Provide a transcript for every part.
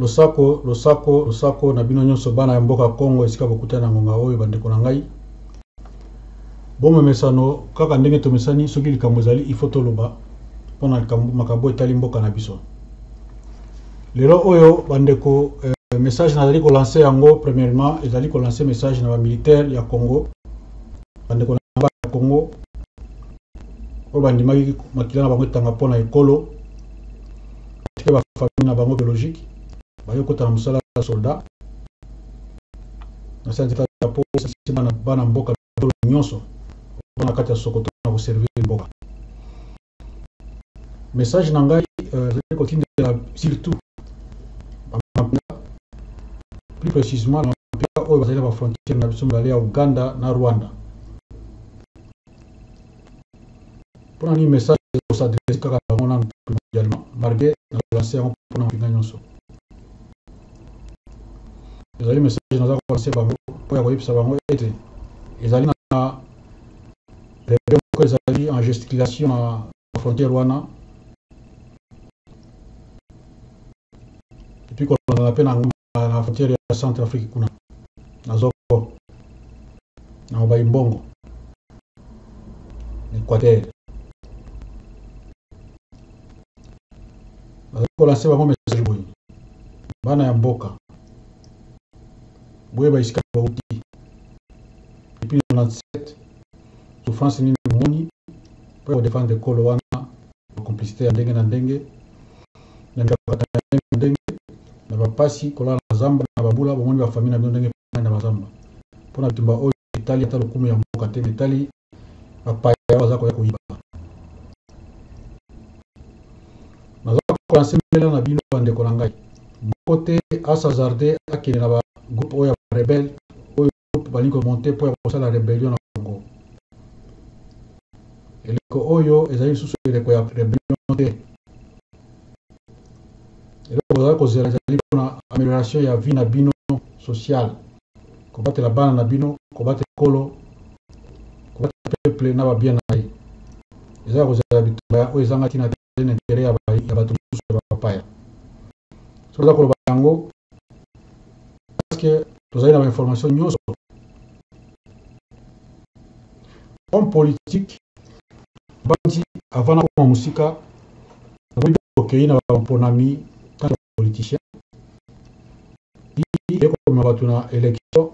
losako losako losako na bino nyonso bana ya mboka congo esika bokutani na ngonga oyo bandeko na ngai bomemesano kaka ndenge tomesani soki likambo ezali ifo toloba mpo na makambo etali mboka na biso lelo oyo bandeko eh, message nazali kolanse yango premièrement ezali kolanse message na bamilitaire ya congo bandeko na ba ya congo oyo bandimaki makila na bango etanga mpo na ekolo batike bafamille na bango biologique baye kota na mosala ya soldat na santeka po esasi bana mboka nyonso na kati ya sokoto na koservir mboka message na ngai euh, ezali kotindela surtout bamampinga plus précisement bamampinga oyo bazali na bafrontiere na biso mibale ya uganda na rwanda mpona nini message kosadrese kaka bango nanu primordialement malgré na lanse yango mpona mampinga nyonso ezali message naza kolanse bango mpo ya koyebisa bango ete ezali na Bebe moko ezali en gesticulation na frontière wana epuis kolongana mpe na ngomba na frontière ya centre afrique kuna na zoko na mobai mbongo na équateur nazali kolanse bango message boye bana ya mboka boyeba esika bauti depuis 97 souffrance nini bomoni mpo ya kodefendre ekolo wana bacomplicité ya ndenge na ndenge na mikakata ya ndenge na ndenge na bapasi kolala na zamba na babula bomoni bafamili na bino ndenge na bazamba mpo na bitumba oyo etali ata lokumu ya mboka te etali bapaya baza koya koyiba naza kolansemela na bino bandeko na ngai moko te asazarde akende na bagroupe oyo ya barebele oyo groupe balingi komonte mpo ya kosala rebellion na congo eleko oyo ezali lisusu eleko ya rebellion te eloko bozali kozela ezali mpona amélioration ya vie na bino sociale kobatela bana na bino kobatela ekolo kobatela peuple na babien na ye eza ya kozala bitumba oyo ezanga ntina te na intere ya bato mosusu ya bapaya soki oza koloba yango parceke tozali na bainformation nyonso homme politique banti avant nakoma mosika nakomi okei na bamponami ntango politiciens ye komema bato na election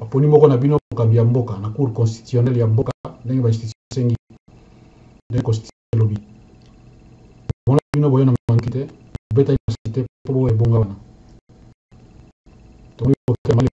aponi moko na bino mokambi ya mboka na cour constitutionnelle ya mboka ndenge bainstitution esengi ndenge constitution elobi mona bino boye na manduki te obetaki masasi te mpo boya ebonga wana tomoni kokema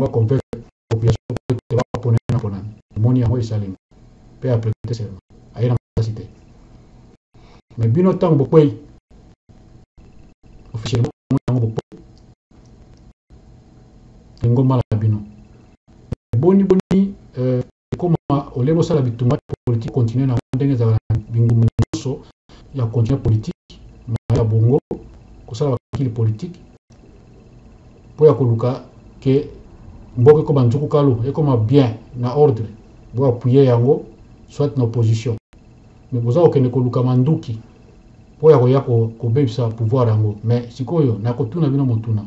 ba convaincre population te te ba pona na pona moni yango esalemi pe après te serment ayena makasi te mais bino tango bokwei officiellement moni yango bokwei lingomba na bino boni boni euh, ekoma olie bosala bitumba politique continue na ndenge ezala na bingumba nyonso ya continue politique mai ya bongo kosala bakili politique mpo ya koluka ke mboka ekoma nzuku kalu ekoma bien na ordre boapuye yango soit na opposition Mais boza kokende koluka manduki mpo ya koya kobebisa pouvoir yango. Mais sikoyo nakotuna bino motuna,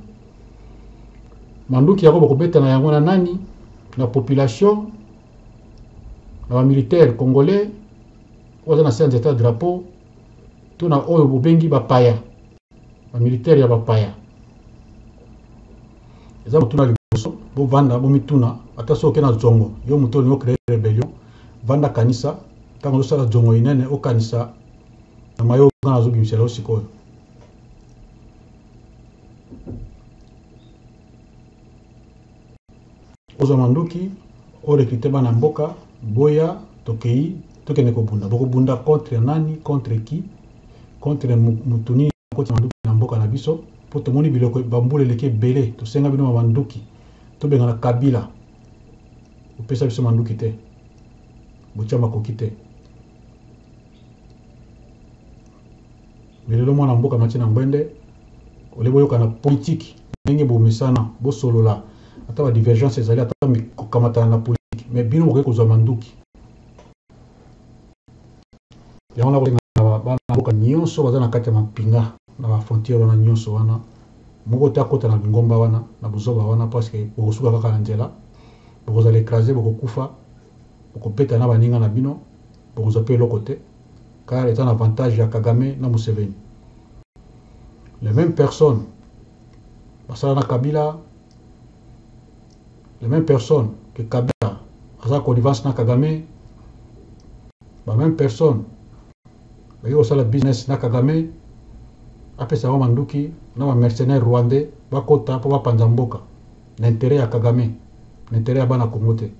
manduki yango bokobeta na yango na nani? Na population, na ba militaire congolais oyo aza na se ya nzete ya drapeau, to na oyo bobengi bapaya? ba militaire ya bapaya eza kotuna liboso bovanda bomituna ata soki oke na zongo yo moto olingi ocree rebellion vanda kanisa ntango ozosala zongo inene okanisa na mayo nga nazobimisela yo sikoyo Oza manduki o recruter bana mboka boya tokeyi tokende kobunda bokobunda contre nani contre qui contre mutu nini bokotisa manduki na mboka na biso po tomoni biloko ba mbula eleki ebele tosenga bino ba manduki tobengana kabila opesa biso manduki te botia makoki te Mais lelo mwana mboka amati na ngbende, au lieu boyokana politique ndenge bomesana, bosolola ata ba divergences ezali ata kokamatana na politique mais bino bokoki kozwa manduki. Yango nakosenga na bana mboka nionso baza na kati ya mampinga na ba frontières wana nionso wana moko te akota na lingomba wana na buzoba wana parce que bokosuka kaka na nzela, bokozala ecraser, bokokufa, bokobeta na baninga na bino, bokozwa pe eloko te. car eza na avantage ya kagame na museveni les mêmes personnes basala na kabila les mêmes personnes que kabila aza connivence na kagame ba mêmes personnes baye kosala business na kagame apesa bango manduki na ba mercenaire rwandais bakota mpo bapanza mboka na interet ya kagame na interet ya bana kongo te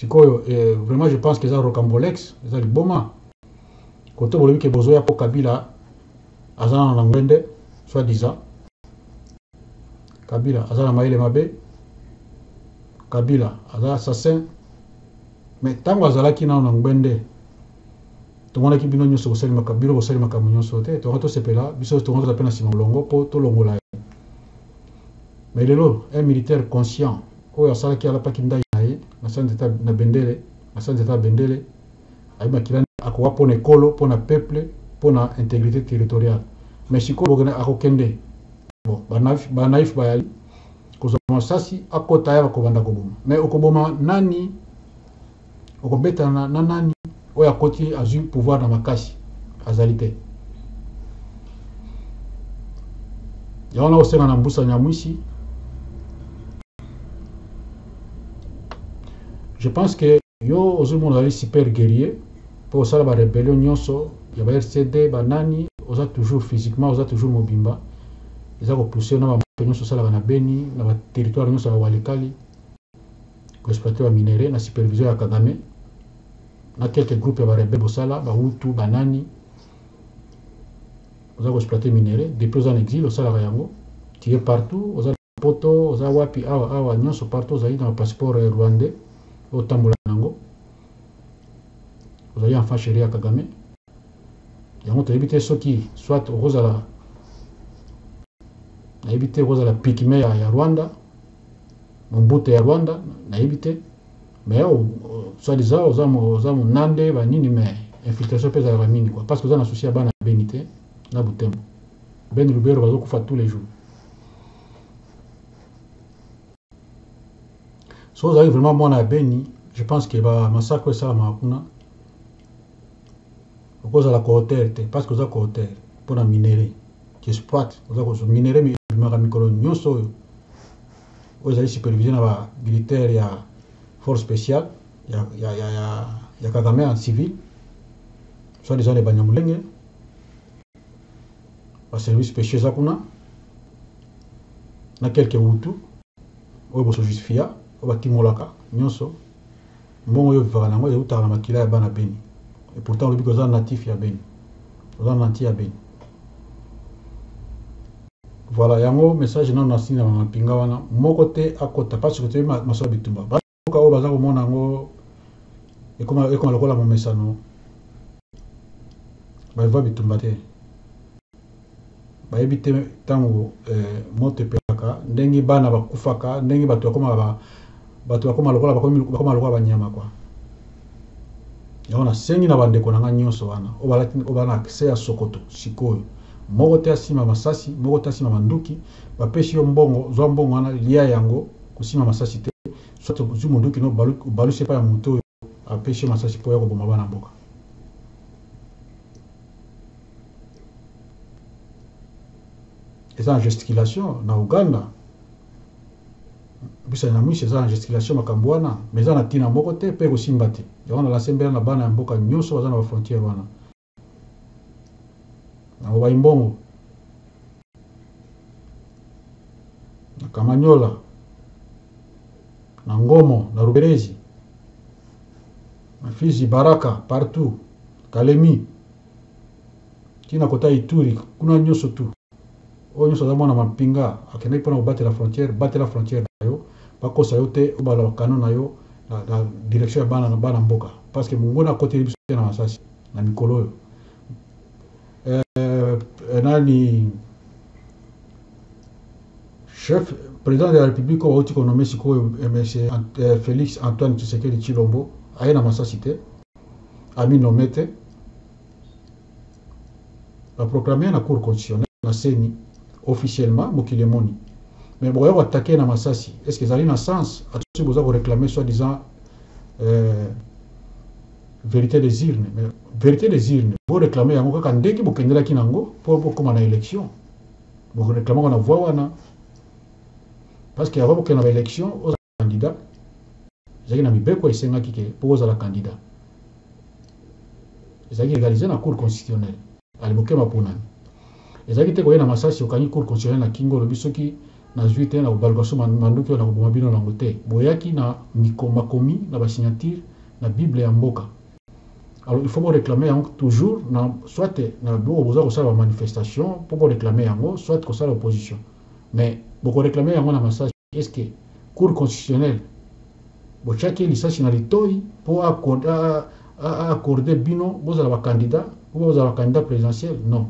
sikoyo eh, vraiment je pense que eza rocambolex eza liboma kote bolobi ke bozoya mpo kabila aza na na ngwende soit disant kabila aza na mayele mabe kabila aza assassin mais ntango azalaki nano na ngwende tomonaki bino nyonso kosali makambo bino kosali makambo nyonso te tonga tosepela biso tonga toza mpe na nsima molongo mpo tolongola Mais lelo un militaire conscient oyo asalaki alataki ndayi na ye na sans etat na bendele na sans etat ya bendele ayebi makila nini akowa pona ekolo pona peuple pona integrite territoriale mais sikoyo bokende akokende bon ba naïf ba naïf bayali kozwa masasi akota ya bakobanda koboma mais okoboma nani okobetana na nani oyo akoti azwi pouvoir na makasi azali te yango na kosenga na mbusa nyamwisi je pense que yo ozomona ozali super guerrier mpo osala barebellion nyonso ya ba rcd banani oza toujours physiquement oza toujours mobimba eza kopousse na bamoto nyonso osalaka na beni na baterritoire nyonso ya walikali Exploitation ya minerais na supervision ya Kagame na quelques groupes ya ba rebelles bosala ba Hutu ba nani oza ko exploiter minerais depuis oza na exil osalaka yango tu es partout oza na poto oza wapi awa awa nyonso partout ozali na passeport eh, rwandais otambola nango ozali en face ya kagame yango toyebi te soki soit okozala nayebi te okozala pikime ya, ya rwanda Mobutu ya Rwanda nayebi te mais oh, oh, soit disant oza oza munande ba nini mais infiltration pe ezalaka mingi quoi parce que oza na souci ya bana beni te na Butembo beni Lubero bazo kufa tous les jours so ozali vraiment mwana ya beni je pense que ba massacre esalama kuna Okozala coauteur te parce que oza coauteur mpo na minerais tu exploites, oza kozwa minerais mais ebimaka mikolo nionso oyo oyo ezali supervise na ba militaires ya force speciale ya ya ya ya ya Kagame en civil soit disant les Banyamulenge ba services speciaux eza kuna na quelques Hutu. oyo bo so justifia oyo ba timolaka nionso mbongo yo vivaka na yango ewutaka na makila ya bana beni et pourtant olobi ke oza natif ya beni oza nanti ya beni voila yango message nanu na sina na mapinga wana moko te akota pasque toyebi masolo ya bitumba mboka oyo baza komona yango ekoma, ekoma lokola momesano balivwa bitumba te bayebi te ntango eh, moto epelaka ndenge bana bakufaka ndenge bato bakoma ba, bato bakoma lokola bakoma lokola banyama kwa yango nasengi na bandeko na ngai nyonso wana oyo bana accès ya sokoto sikoyo moko te asima masasi moko te asima manduki bapesi yo mbongo zwa mbongo wana lia yango Kosimba masasi te, soit ozui munduki no obalusi epai ya mutu oyo apesi yo masasi po oya koboma bana mboka. Eza na gesticulation na Ouganda. Busa Nyamwisi eza na gesticulation makambu wana mais eza na tina moko te pe ekosimba te. Yango na lancer mbela na bana ya mboka nyoso baza na ba frontières wana. Nakobayi mbongo. Na Kamanyola. Na Ngomo, na Ruberezi. Na Fizi, Baraka, partout. Kalemi. Tina kota Ituri, kuna nyoso tu. Oyo nyoso aza mwana mampinga, akendaki mpona kobatela frontière, batela frontière na yo, bakosa yo te, obala ba canon na yo na, na direction ya bana, bana mboka. Parce que monguna akoteli biso te na masasi. na mikolo oyo eh, nani chef président de la république oyo bauti konome sikoyo eh, monsieur eh, félix antoine tshisekedi tshilombo aye na masasi te aminome te baproclame na cour constitutionnel na seni officiellement mokili emoni mais bokoya koatake na masasi est ce que ezali na sens atosi boza koreclame soit disant euh, Verite des urnes mais verite des urnes bo reclamer yango kaka ndenge bo kendelaki na yango po bo koma na election bo ko reclamer yango na voix wana parce que avant bo kenda na ba election oza candidat ezalaki na mibeko esengaki ke po ozala candidat ezalaki legaliser na cour constitutionnelle Ali Bokeba aponami. Ezalaki te koyena masasi okangi cour constitutionnelle na kingo olobi soki nazui te nakobaluka su manduki oyo nakoboma bino na yango te boyaki na miko makomi na ba signature na bible ya mboka alors il faut bo reclamer yango toujours na soit na boko boza kosala ba manifestation po bo reclamer yango soit kosala opposition mais boko reclamer yango na masasi est ce que cour constitutionnelle Botiaki ye lisasi na litoyi po a accorder bino bozala ba candidats ou bien bozala ba candidats presidentiels? Non.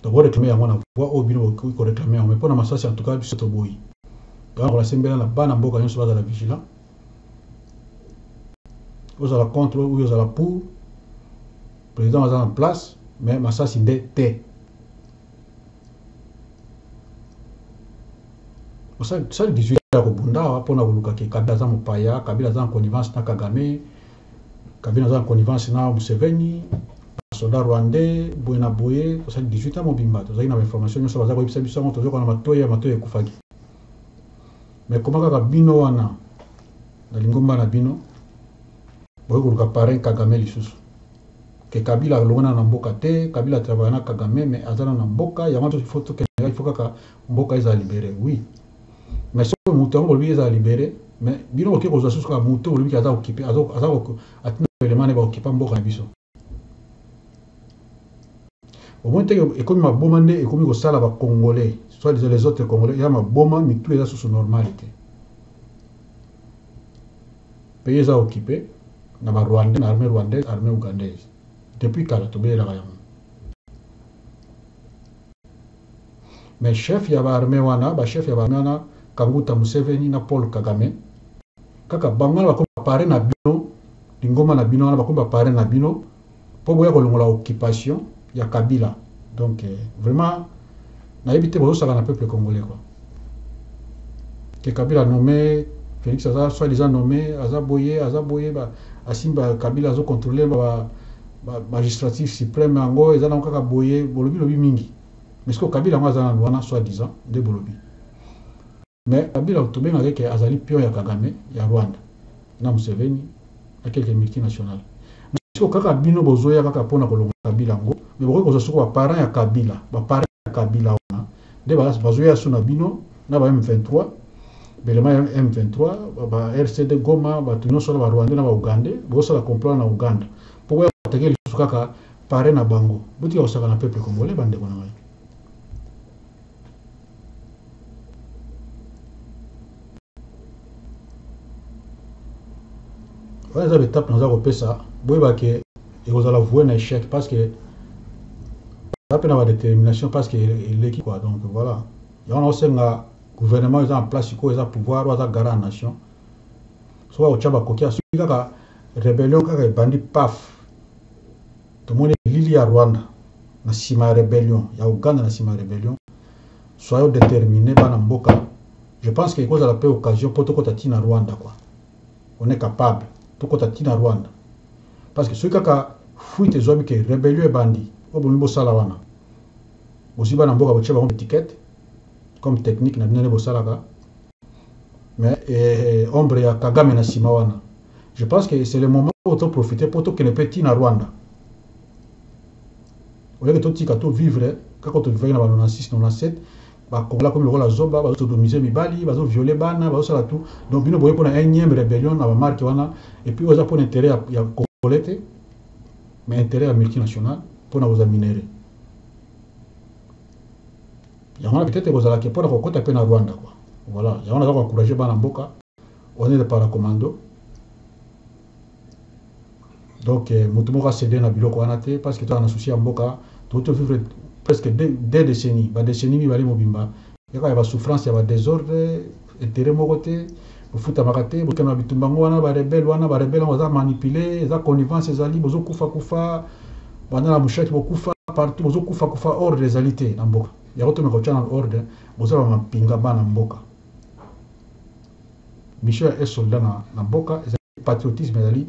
Donc bo reclamer yango na voix oyo bino bokoki ko reclamer yango mais pona masasi en tout cas biso toboyi. Yango nakola sembela na bana mboka nionso bazala vigilant. Ozala contre ou bien ozala pour, president aza na place mais masasi nde te. osali 18 ya kobunda awa mpo na koluka ke kabila aza mopaya kabila aza na connivence na kagame kabila aza na connivence na museveni basoda rwandais boye na boye osali 18 ya mobimba tozali na bainformation nyonso baza koyebisa biso yango tozoka na matoyi ya matoyi ekufaki me koma kaka bino wana na lingomba na bino boye koluka parin kagame lisusu Que kabila alongwe nanu na mboka te kabila travaille na kagame mais aza nanu na mboka yango wana il faut tokende il faut kaka mboka ezala libere oui mais soki mutu yango bolobi ezala libere mais bino boke kozwa susu kaka mutu bolobi ke aza okipe aza atina baelema ne baokipa mboka na biso omoni te ekomi maboma nde ekomi kosala bacongolais soit disant les autres congolais eza maboma mitu eza susu normale te Pays eza occupe na ba rwandais na armee rwandaise armee ougandaise depuis kala tobelelaka yango mais chef ya ba armee wana ba chef ya ba armee wana kanguta museveni na paul kagame kaka bango wana bakomi ba parrain na bino lingomba na bino wana bakomi ba parrain na bino po boya kolongola occupation ya kabila donc vraiment nayebi te bozosaka na peuple congolais quoi que kabila nomme felix aza soit disant nomme aza boye aza boye ba asimba kabila azo contrôler ba magistrature suprême yango eza nango kaka boye bolobi lobi mingi mais sikoyo kabila yango aza nanu wana soit disant nde bolobi Mais Kabila tobengaka ye ke azali pion ya Kagame, ya Rwanda na Museveni na quelques multinationales. Mais sikoyo kaka bino bozoya kaka pona kolongola Kabila yango mais bokoki kozwa soko ba parents ya Kabila, ba parrains ya Kabila wana nde bazoya sous na bino na ba M23, b'elements ya M23, ba RCD Goma, batu nionso wana ba Rwandais na ba Ougandais, bozosala complot wana na Ouganda po boya ko attaquer lisusu kaka parrain na bango. Botika kosakana peuple congolais bandeko na ngai. wana eza betape naza kopesa boyeba ke ekozala voie na échec parce que eza mpe na badétermination parce que eleki quoi donc voilà yango naosenga gouvernement eza na place sikoyo eza pouvoir oyo aza gara ya nation soki akotya bakoki asoki kaka rebellion kaka ebandi paf Tomoni elili ya Rwanda na sima ya rebellion ya Ouganda na sima ya rebellion soyons determine bana mboka je pense que ekozala pe occasion po tokota ti na Rwanda quoi on est capable tokota ti na Rwanda parce que soki kaka fuite ezwami ke rebellion ebandi oyo bolingi bosala wana bozwi bana mboka botie bango etiquette comme technique na bino nde bosalaka mais eh, ombre ya kagame na sima wana je pense que c'est le moment oyo to profiter mpo tokende mpe ti na rwanda oyeke totika to vivre kaka tobivaki na ba 96 97 bakongola komi lokola zoba bazosodomise mibali bazoviole bana bazosala tout donc bino boye mpo na énième rébellion na bamarke wana epuis oyo eza mpo na intérêt ya, ya congolais te mais intérêt ya multinational mpo na kozwa minere Yango wana peut-etre ekozala que pona kokota pe na Rwanda quoi. Voilà, yango naza ko encourager bana mboka, on est des paracommando. Donc mutu moko a ceder na biloko wana te parce que toza na souci ya mboka, touti to vivre presque deux decennies, ba decennies mibale mobimba kaka ya ba souffrances, ya ba desordres, Interet moko te, bofutamaka te, bokende na bitumba yango wana ba rebelles wana, ba rebelles yango baza manipuler, eza connivence ezali, bozo kufa kufa, banda na mushaki bokufa partout, bozo kufa kufa, ordre ezali te na mboka, yango tomeka kotia na ordre, boza ba mampinga bana mboka, mission ya un soldat na, na mboka ezali patriotisme, ezali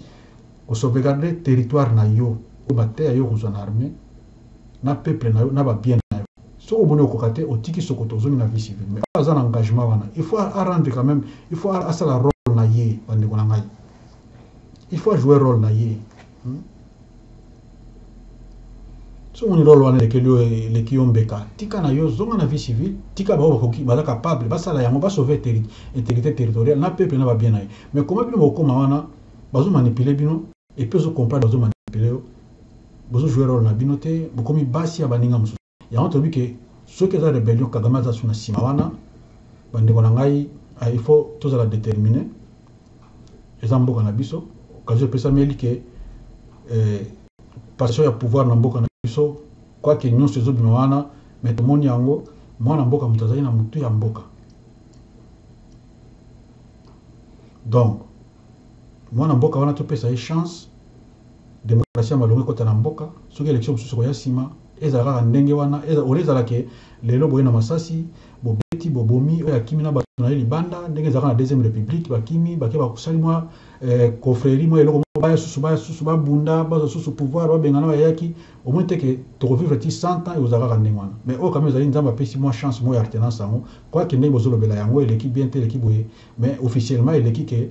ko sauvegarder territoire na yo, oyo bateya yo kozwa na armee, na peuple nayo na ba bien nayo soki omoni okoka te otiki sokoto ozongi na vie civile mais oyo aza na engagement wana il faut a rendre quand meme il faut asala role na ye ba ndeko na ngai il faut a jouer role na ye hmm? soki omoni role wana elekeli yo eleki yo mbeka tika na yo zonga na vie civile tika bango bakoki baza capable basala yango basauve intégrité territoriale na peuple na babien na ye mais koma bino bokoma wana bazomanipule bino Et puis ozo comprendre bazo manipuler yo bozo jouer role na bino te bokomi basi ya baninga mosusu yango tolobi ke soki eza rebellion kagame aza su na nsima wana bandeko na ngai ah, il faut tozala determine eza mboka na biso okazi epesameli ke eh, passion ya pouvoir na mboka na biso kwake nyonso ezobima wana me tomoni yango mwana mboka moto azali na motu ya mboka donc Muana mboka wana topesa ye chance democratie ya malonga ekota na mboka soki election mosusu ekoya sima ezala kaka ndenge wana au lieu ezala ke lelo boye na masasi bobeti bobomi oyo akimi na batu na ye libanda ndenge ezalaka na deuxième republique bakimi bake basali mwa eh, confrerie mwa eloko moko baya susu baya susu babunda bazwa susu pouvoir babengana bayaki omoni te ke tokovivre ti 100 ans ekozala kaka ndenge wana mais oyo kama ezali nzambe apesi mwa chance moko ya retenance yango kwake ndenge bozolobela yango eleki bien te eleki boye Mais officiellement eleki que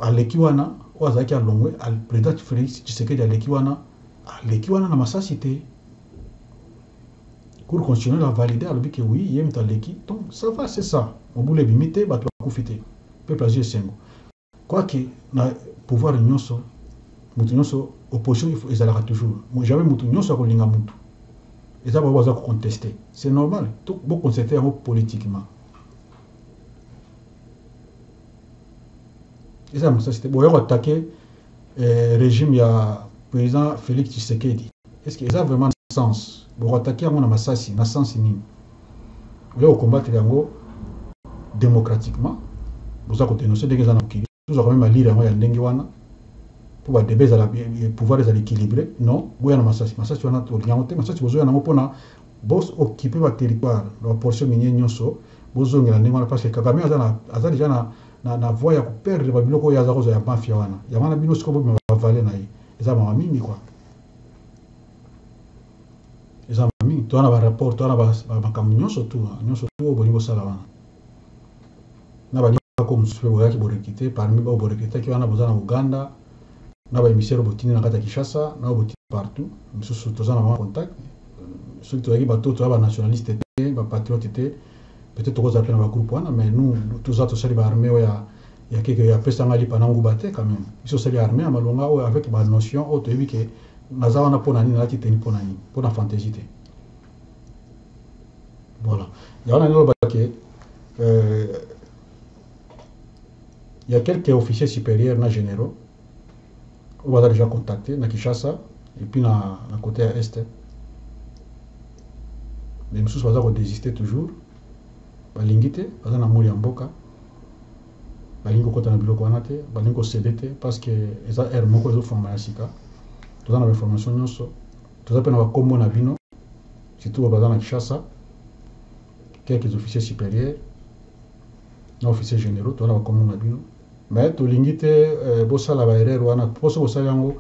aleki wana oyo azalaki alongwe president Felix Tshisekedi aleki wana aleki wana na masasi te cour constitutionnelle a valide alobi que oui ye moto aleki donc ça va c'est ça mobulu ebimi te bato bakufi te peuple azwi esengo quoique na pouvoir nyonso moto nyonso opposition ezalaka toujours jamais moto nyonso akolinga moto eza bango baza koconteste c'est normal boconcerte yango politiquement eza masasi te boya koatake eh, régime ya président félix tshisekedi est ce que eza vraiment na sens bokoatake yango na masasi na sens nini oya kokombatela yango démocratiquement boza kodenonse ndenge eza na mokili Tozwa quand meme ba lire yango ya ndenge wana po ba debat ezala pouvoir ezala equilibre non boya na masasi masasi wana tolingi yango te masasi bozoya na yango pona bo occuper ba territoire na ba portion minier nionso bozongela ndenge wana parce que Kagame aza na aza deja na na, na voie ya ko perdre ba biloko oyo aza kozwa ya mafia wana yango wana bino sikoyo bobima ba vale na ye eza mawa mingi kwa eza mawa mingi toza na ba rapport toza na makambo nyonso tu nyonso tu oyo bolingi kosala wana na ba ndako mosusu mpe boyaki borekite parmi oyo borekitaki wana boza na Uganda na ba emissaire botindi na kati ya Kinshasa na oyo botindi partout mosusu toza na bango contact soki tozalaki bato toza ba nationaliste te ba patriote te peut-être tokozala mpe na ba groupe wana mais nous toza tosali ba armée oyo ya ya keke ya pesa ngai lipa na nguba te quand même biso osali armée ya malonga oyo avec ba notion oyo toyebi ke naza wana mpo na nini nalati teni mpo na nini mpo na fantaisie te Voilà. Il y a un que euh, il y a quelques officiers supérieurs na généraux on va déjà contacter na Kinshasa et puis na, na côté à est. Mais nous sommes pas désister toujours. balingi te baza na moli ya mboka balingi kokota na biloko wana te balingi kosede te parce que eza heure moko ezofongama ya sika toza na bainformation nyonso Toza pe na ba kombo na bino surtout oyo baza na Kinshasa quelques officiers superieurs na officiers generaux toza na ba kombo na bino mais tolingi te euh, bosala ba erreur wana po soki bosali yango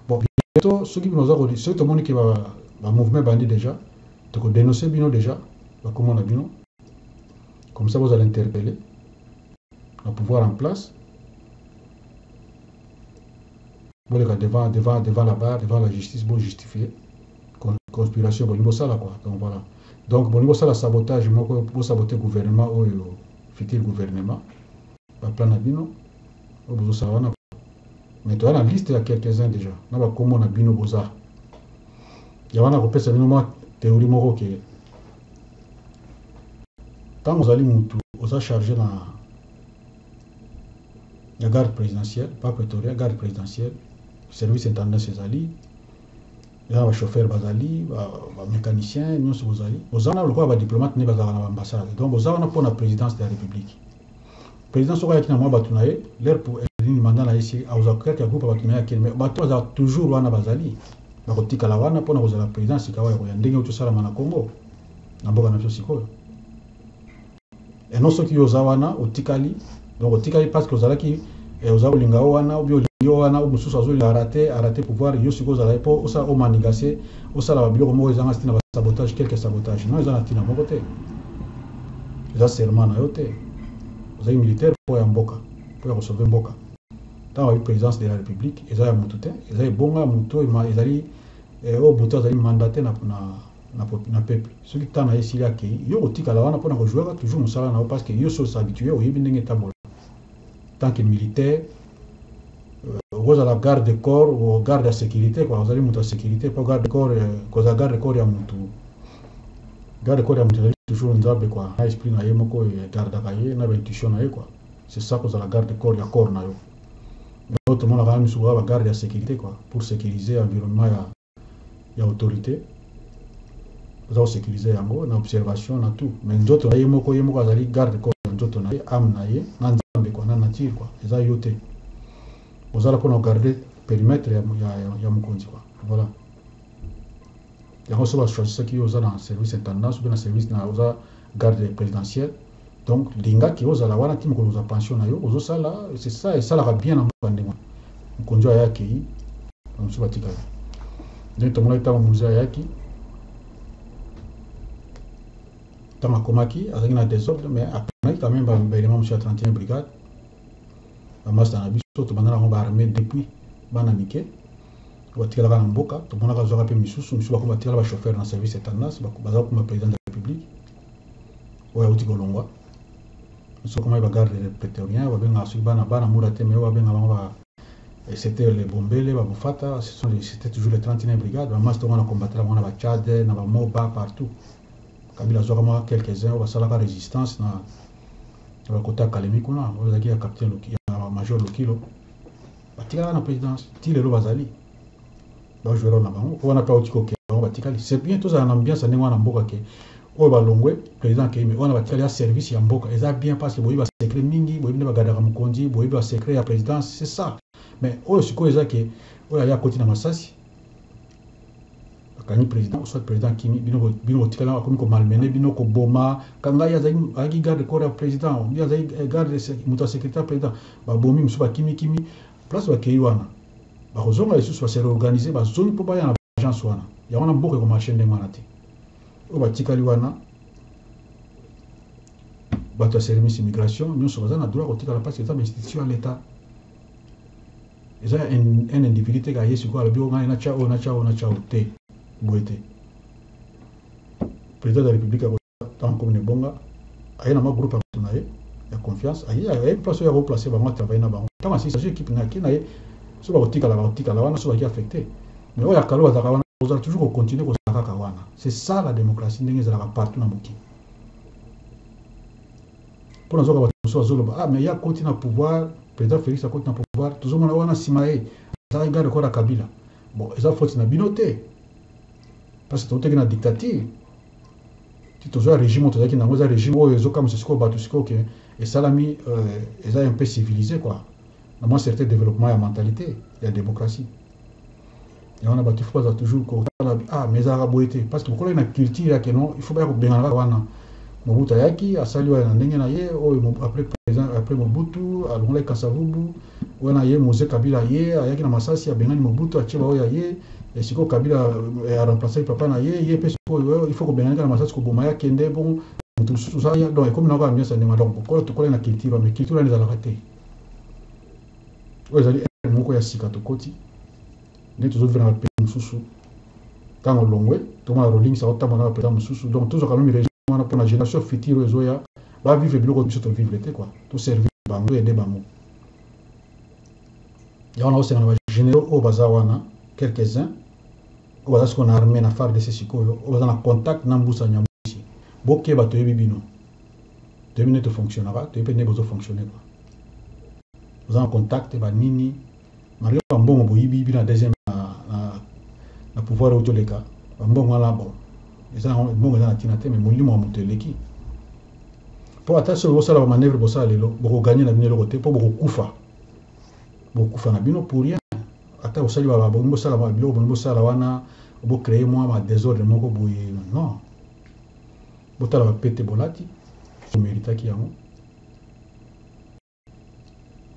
bon bientôt soki bino oza kodi soki tomoni ke ba, ba mouvement bandi déjà toko denoncer bino déjà ba kombo na bino comme ça bozala interpeller na pouvoir en place Boleka devant devant devant la barre devant la justice bo justifier conspiration bolingi bosala quoi donc voilà donc bolingi bosala sabotage moko bo saboter gouvernement oyo futur gouvernement ba plan na bino oyo bozosala wana mais toya na liste ya quelques uns déjà na bakombo na bino boza ya wana kopesa bino mwa théorie moko ke ntango ozali mutu oza charge na ya garde presidentielle pas pretoria garde presidentielle service intendance ezali eza ba chauffeur bazali ba mécanicien nyonso bozali boza wana lokola badiplomate nde bazalaka na baambassade donc boza wana mpo na présidence de la république président soki ayaki na mwa bato na ye leur nini manda na ye si azwa kati ya groupe bato na ye akende mais bato bazalaka toujours wana bazali bakotikala wana mpo na kozala président sikawa ya koya ndenge oyo tosalama na congo na mboka na biso sikoyo et non soki yo oza wana otikali donc otikali parce que ozalaki eh, oza kolinga yo wana obi olingi yo wana mosusu azolinga arate arate pouvoir yo sikoyo ozalaki mpo osala omanigase osala babiloko moko ezanga ntina basabotage quelque sabotage non eza na ntina moko te eza serment na yo te ozali militaire mpo ya mboka mpo ya kosauve mboka ntango ayebi présidence de la république eza ya motu te eza ebonga ya motu oyo ezali eh, oyo motu azali mandate na, na na, na peuple soki temps na ye esili akei yo kotikala wana pona kojouaka toujours mosala na yo parce que yo so s'habitue oyebi ndenge etambola tant que militaire okozala garde de corps o garde ya sécurité kwa ozali moto ya sécurité mpo garde de corps euh, kozala garde de corps ya moto garde de corps ya moto ezali toujours nzambe kwa na esprit na ye moko egardaka ye na baintuition na ye kwa c'est ça kozala garde de corps ya corps na yo oyo tomonaka na misusu kaka bagarde ya sécurité kwa pour sécuriser environnement ya ya autorite oza kosecurise yango na observation na tout mais nzoto na ye moko ye moko azali garde corps ya nzoto na ye ame na ye na nzambe kua na nature kua eza yo te ozala mpona kogarde perimetre ya, ya, ya, ya mokonzi kua voilà yango so bachoisisaki yo oza na service intendance ope na service na oza garde présidentielle Donc linga ke ozala wana ti mokolo ozwa pension na yo ozosala c'est ça esalaka bien na mboka ndenge wana mokonzi aya akei bamosusu batikala ndenge tomonaki ntango mozi ayaki ntango akomaki azalaki na desordre mais aponaki quand même baelema mosusu ya 31 brigade bamasta na biso tobanda nango baarmée depuis bana mike batikalaka na mboka tomonaka azwaka mpe misusu misusu bakoma batikala bachauffeur na service ya tendance bazala kuma président de la république oyo awuti kolongwa biso komaki bagarde de prétorien babengaka soki bana bana mura te mais oyo babenga bango ba eh, c'était le bombele babufata ce sont c'était toujours le 31 brigade bamasi tongo na combatela bango na bachad na bamoba partout kabila azwaka mwa quelques-uns oyo basalaka résistance na bakota kalemi kuna oyo ezalaki ya capitaine ya major lokilo batikaka na présidence ti lelo bazali ba joueur na bango po wana pe auti kokende bango batikali c'est bien tozala na ambiance ya ndenge wana mboka ke oyo balongwe président akei mais wana batikali ya service ya mboka eza bien parce que boyebi basecret mingi boyebi nde bagardaka mokonzi boyebi basecret ya présidence c'est ça mais oyo sikoyo eza ke oyo aya akoti na masasi akangi président soit président akimi bino botikali yango akomi komalmene bino koboma kangai azalaki garde corps ya président bino azalaki eh, garde moto ya secrétaire président babomi mosusu bakimikimi Place bakeyi wana bako zonga lisusu ba se reorganiser ba zongi po baya na ba agences wana yango wana mboka eko marcher ndenge wana te oyo ba tikali wana batu ya sermice immigration nionso baza na droit ko tikala parce que eza ba institution ya l'etat eza ya un individu te kaka ye sikoyo alobi o ngai na tia oyo na tia oyo na tia oyo te boye te president de la republique ntango akomi na ebonga aye na mwa groupe ya bato na ye ya confiance aye aye place oyo akoplace bango atravaille na bango ntango asisi azwi ekipe na kin na ye so bakotikala bakotikala wana so baki affecte mais oyo akalo azalaka wana ozala toujours kocontinue kozala kaka wana c'est ça la démocratie ndenge ezalaka partout na mokili mpo nazoka bato mosusu azoloba ah mais ye akoti na pouvoir président félix akoti na pouvoir tozomona wana nsima ye azalaki garde corps ya kabila bon eza foti na bino te parce que toutaki na dictature ti tozwa regime oyo tozalaki nango eza regime oyo ezokamwisa sikoyo bato sikoyo ke esalami euh, eza un peu civilise quoi na mwa certain développement ya mentalité ya démocratie yango na bato ifo baza toujours kotala ah mais ezalaka boye te parce que bokolaki na culture ya keno ifo baya kobengana kaka wana mobutu ayaki asali oyo na ndenge na ye oyo après président après mobutu alongolaki kasavubu Oyo na ye Mose kabila ye ayaki na masasi abengani Mobutu atie ba oyo ya ye et sikoyo kabila eh, a remplacer papa na ye ye pe sikoyo eh, il faut kobengani kaka na masasi koboma ya kende bongo mutu mosusu oza ya donc ekomi na kaka ambiance ya ndenge donc kokola tokolaki na culture mais culture wana ezalaka te oyo ezali ere moko ya sika tokoti nde tozovivre na bapays mosusu ntango olongwe tomona rolings aotambwa na bapays mosusu donc tozwaka meme problème wana pona génération future oyo ezoya ba vivre biloko biso to vivre te quoi to servir bango aider bango ya wana osenga na ba généraux oyo baza wana quelques uns oyo baza sikoyo na armée na fardc sikoyo oyo baza na contact na mbusa nyamwisi bokeba toyebi bino toyebi nde tofonctionnaka toyebi mpe nde bozofonctionne kua boza na contact banini Mario ba mbongo boyibi bino na deuxième na, na, na pouvoir oyo toleka ba mbongo wana bon eza mbongo eza na tina te mais molimo ya moto eleki mpo ata soki bosala ba manœuvre bosala lelo bokoganye na bino eloko te mpo bokokufa bokufa na bino pour rien ata osali babongi bosala biloko bongi bosala wana bocreye mwa ma desordre moko boye non botala bapete bolati omeritaki yango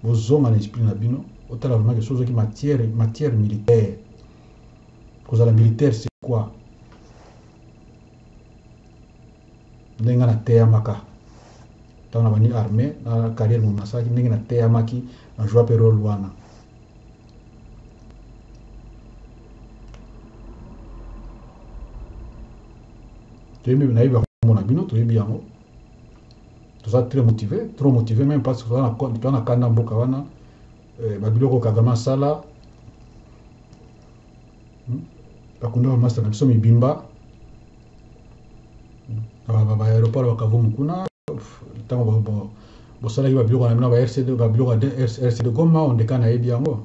bozonga na esprit na bino otala vraiment que soki ozwaki matière matière militaire kozala militaire c'est quoi ndenge nga nateyamaka ntango na bandi armée na carrière momo nasalaki ndenge nateyamaki na joua mpe role wana toyebi nayebi bakombo na bino toyebi yango toza très motive trop motive meme parce que toza na kanda mboka wana eh, babiloko kagame asala hmm? bakunda bamasta na biso mibimba hmm? baaéroport bakavumu kuna ntango bosalaki babiloko na bino ba rcd babiloko ya rcd goma ondekana ayebi yango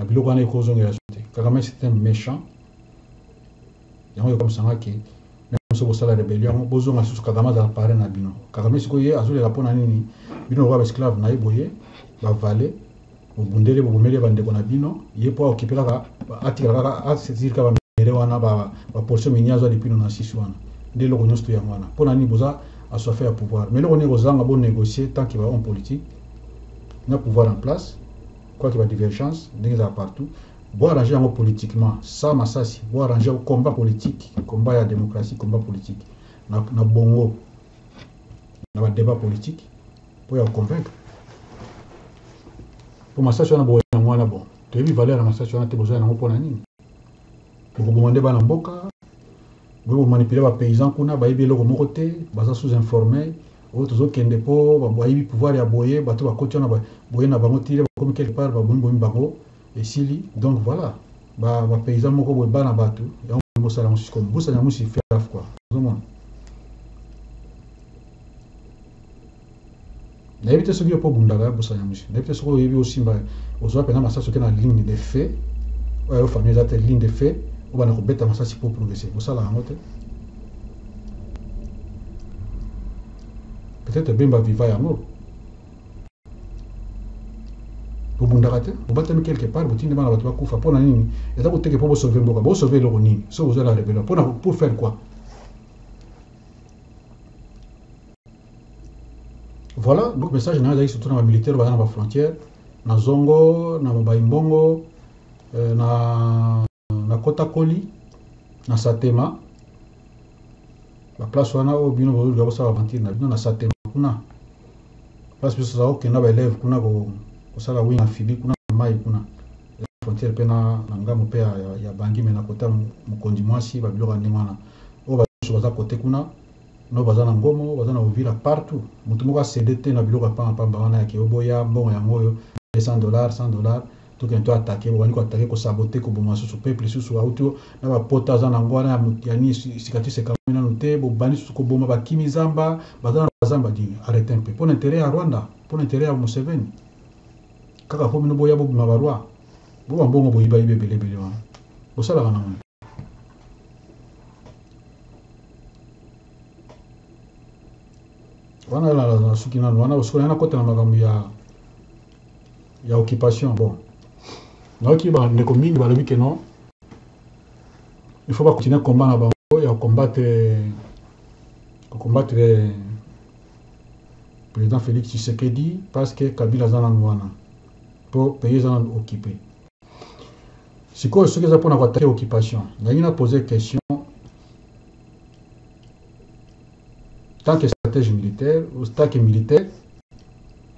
ba biloko wana ekozongela biso te kagame c'est un méchant yango ekomisanga ke meme soki bosala rebellion yango bozonga susu kagame azala pare na bino kagame sikoyo ye azolela mpo na nini bino lokola baesclave na ye boye bavale bobundele bobomeli bandeko na bino ye mpo aokipe kaka atikala kaka asesiri kaka bamere wana baportion minie azwa lipino na sisi wana nde eloko nyonso to yango wana mpo na nini boza aswafe ya pouvoir mais eloko nini ekozanga bonegocie tant ke ba homme politique na pouvoir en place quoi que ba divergence ndenge ezala partout bo arranger yango politiquement sans masasi bo arranger yango combat politique combat ya démocratie combat politique na, na bongo na ba débat politique pour ya convaincre pour masasi wana boye yango wana bon toyebi valeur ya masasi wana te bozoya nango mpo na nini bokoboma nde bana mboka boye bomanipule bapaysans kuna bayebi eloko moko te baza sous informel Oyo tozo kende po bayibi pouvoir ya boye batu bakoti wana boye na bango tire bakomi quelque part babomi bomi bango esili donc voila ba ba paysan moko boye bana batu yango bolingo sala yango sikoyo busa nyamusi fait gaffe quoi ozo mona nayebi te soki yo mpo obundaka ya busa nyamusi nayebi te soki oyebi osimba ozwa mpenza masasi oke na ligne de fait oyo yo famille eza te ligne de fait obanda kobeta masasi mpo progresse kosala yango te peut-être bemba viva yango bobundaka te bobatami quelque part botindi bana bato bakufa mpo na nini eza koteke mpo bosauve mboka bosauve eloko nini soki boza la rebellion mpo na pour faire quoi voilà donc message na yo ezalaki surtout na bamilitaire baza na bafrontière na zongo na mobai mbongo euh, na nakotakoli na satema baplace wana oyo bino bozoluka kosala aventure na bino na satema kuna place biso tozala kokenda baelève kuna kosala wing amphibie kuna na mai kuna frontière mpe na ngambo mpe ya bangi me na kota mokonzi mwasi babiloko ya ndenge wana oyo basusu baza kote kuna no baza na ngomo baza na ovila partout motu moko asede te na biloko ya pamba pamba wana ya keoboya mbongo yango oyo 200 dollars 100 dollars To kende to attaque bobandi ko attaque ko sabote ko boma susu peuple lisusu awuti yo na ba pota aza nango wana ya ya nini cicatrice ekamami nanu te bobandi susu ko boma ba kimi zamba baza na bazamba di arrete un peu pona interet ya Rwanda pona interet ya Museveni kaka po bino boya bobima ba roi bo ba mbongo boyiba yiba ebele ebele wana bosalaka nango wana la la suki nanu wana osikola na kota na makambo ya ya occupation bon nayoki ba ndeko mingi balobi ke non il faut ba continuer combat na bango ya combattre ko combattre président Félix Tshisekedi parce que Kabila aza nanu wana po pays eza nanu occupe sikoyo soki eza mpona koatake occupation nalingi na pose question tant que stratège militaire ou tant que militaire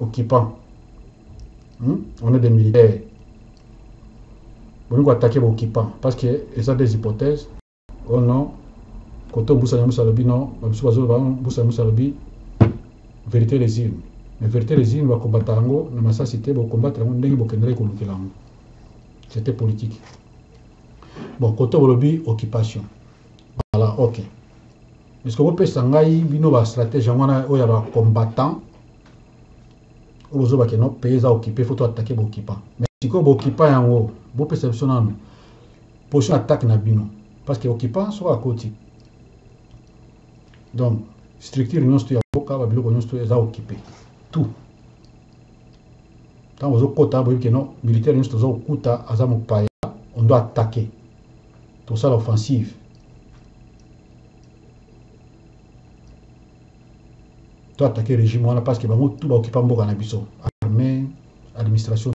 occupant hmm? on est des militaires bolingi koatake baoccupant parce que eza des hypothèses o oh non koto mbusa nyamusa alobi non babisu bazoloba mbusa nyamusa alobi vérité les urnes mais vérité les urnes bakombata yango na masasi te bokombata yango ndenge bokendelaki kolukela yango c'était politique bon koto bolobi occupation voilà ok est ce que bopesa ngai bino bastratège yango wana oyo ya bacombattant oyo bozo ba keno pays eza occuper faut to attaquer ba occupants mais sikoyo ba occupants yango bo pesa biso nanu position attaque na bino parce que occupant soki akoti donc structure nyonso to ya mboka ba biloko nyonso to eza occuper tout ntango ozokota boyebi keno militaire nyonso toza kokuta aza mopaya on doit attaquer tosala offensive to attaquer regime wana parce que bango tout ba occupa mboka na biso armée administration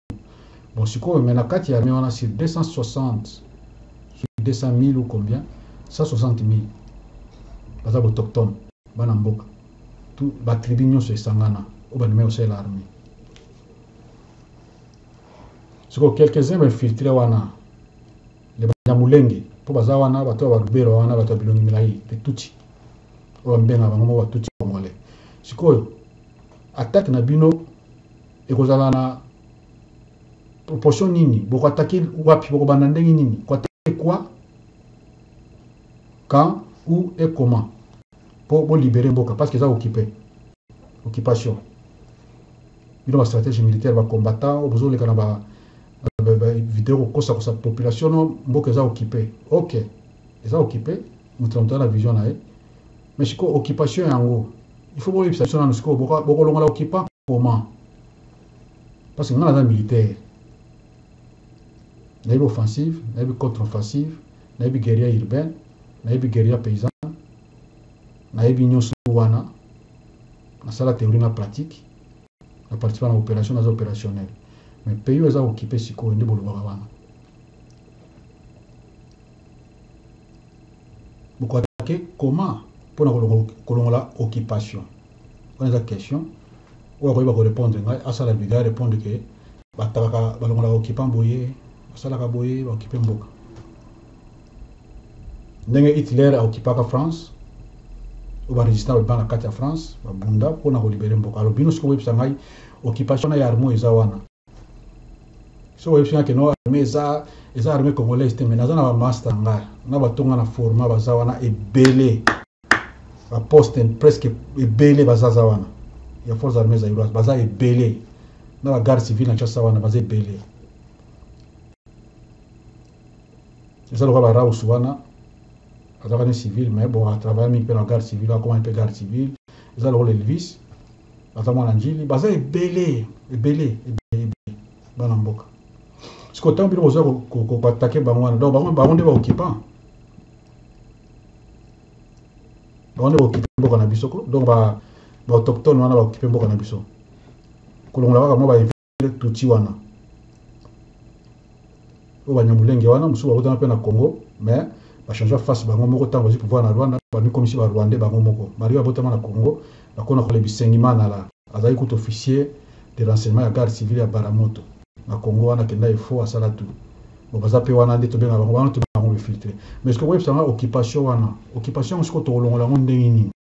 bon sikoyo mais na kati ya armée wana sur 260 sur 200 000 ou combien 160 000 baza botochtone bana mboka tout ba tribu nyonso esangana oyo bandimaki kosalela armée sikoyo quelques-uns bainfiltre wana Les Banyamulenge, po baza wana, bato ya ba Ruberwa wana, bato ya bilongi milayi, les Tutsi. Oyo babenga bango moko ba Tutsi Congolais. Sikoyo, attaque na bino ekozala na proportion nini? Boko attaquer wapi? Boko banda ndenge nini? Ko attaquer quoi? Quand? Où? Et comment? po bo libere mboka parce que eza occupe occupation bino ba strategie militaire ba combattant oyo bozo leka na ba video kokosa kosa population no mboka eza occupe ok eza occupe moto na moto na vision na ye mais sikoyo occupation yango il faut boyebisa biso nanu sikoyo bokolongola occupant comment parce que ngai naza militaire nayebi offensive nayebi contre offensive nayebi guerrier urbaine nayebi guerrier paysanne nayebi nyonso wana nasala théorie na pratique na participa na opération naza opérationnel mais pays oyo eza kokipe sikoyo nde bolobaka wana bokoatake comment mpona kolongola occupation Wana eza question. Oyo akoyeba ko repondre ngai asala video a repondre ke batalaka balongolaka occupant boye basalaka boye ba occupe mboka. Ndenge Hitler a occupaka France oyo ba resistant babima na kati ya France babunda mpo na kolibere mboka. Alors bino sikoyo boyebisa ngai occupation na ya arme oyo eza wana so oyebisi nga keno armée eza eza armée congolaise te mais naza na bamasta nga na bato nga na forma baza wana ebele baposte presque ebele bazaza wana ya force armée zairoise baza ebele na bagarde civile na kinshasa wana baza ebele eza lokola baraus wana azalaka ni civil mais bon atravaya mingi mpe na garde civil akomaki mpe garde civil eza lokola elvis aza mwana njili baza ebele ebele ebele bana mboka sikoyo ntango bino boza koatake bango wana donc bango nde baoccupant bango nde baokipe mboka na biso ko donc baautochtone wana baokipe mboka na biso kolongola kaka mwa le tutsi wana oyo banyamulenge wana mosusu bakotana mpe na congo mais bachangea face bango moko ntango bazwi pouvoir na rwanda bamikomisi barwande bango moko malgre babotama na congo bakona kole bisengimanala azali kutu officier de renseignement ya garde civile ya baramoto na congo wana akenda efo asala tu bo baza mpe wana nde tobenga bango wana tobenga bango befiltre mais soki okoyebisa nga occupation wana occupation yango sikoyo tokolongola yango ndenge nini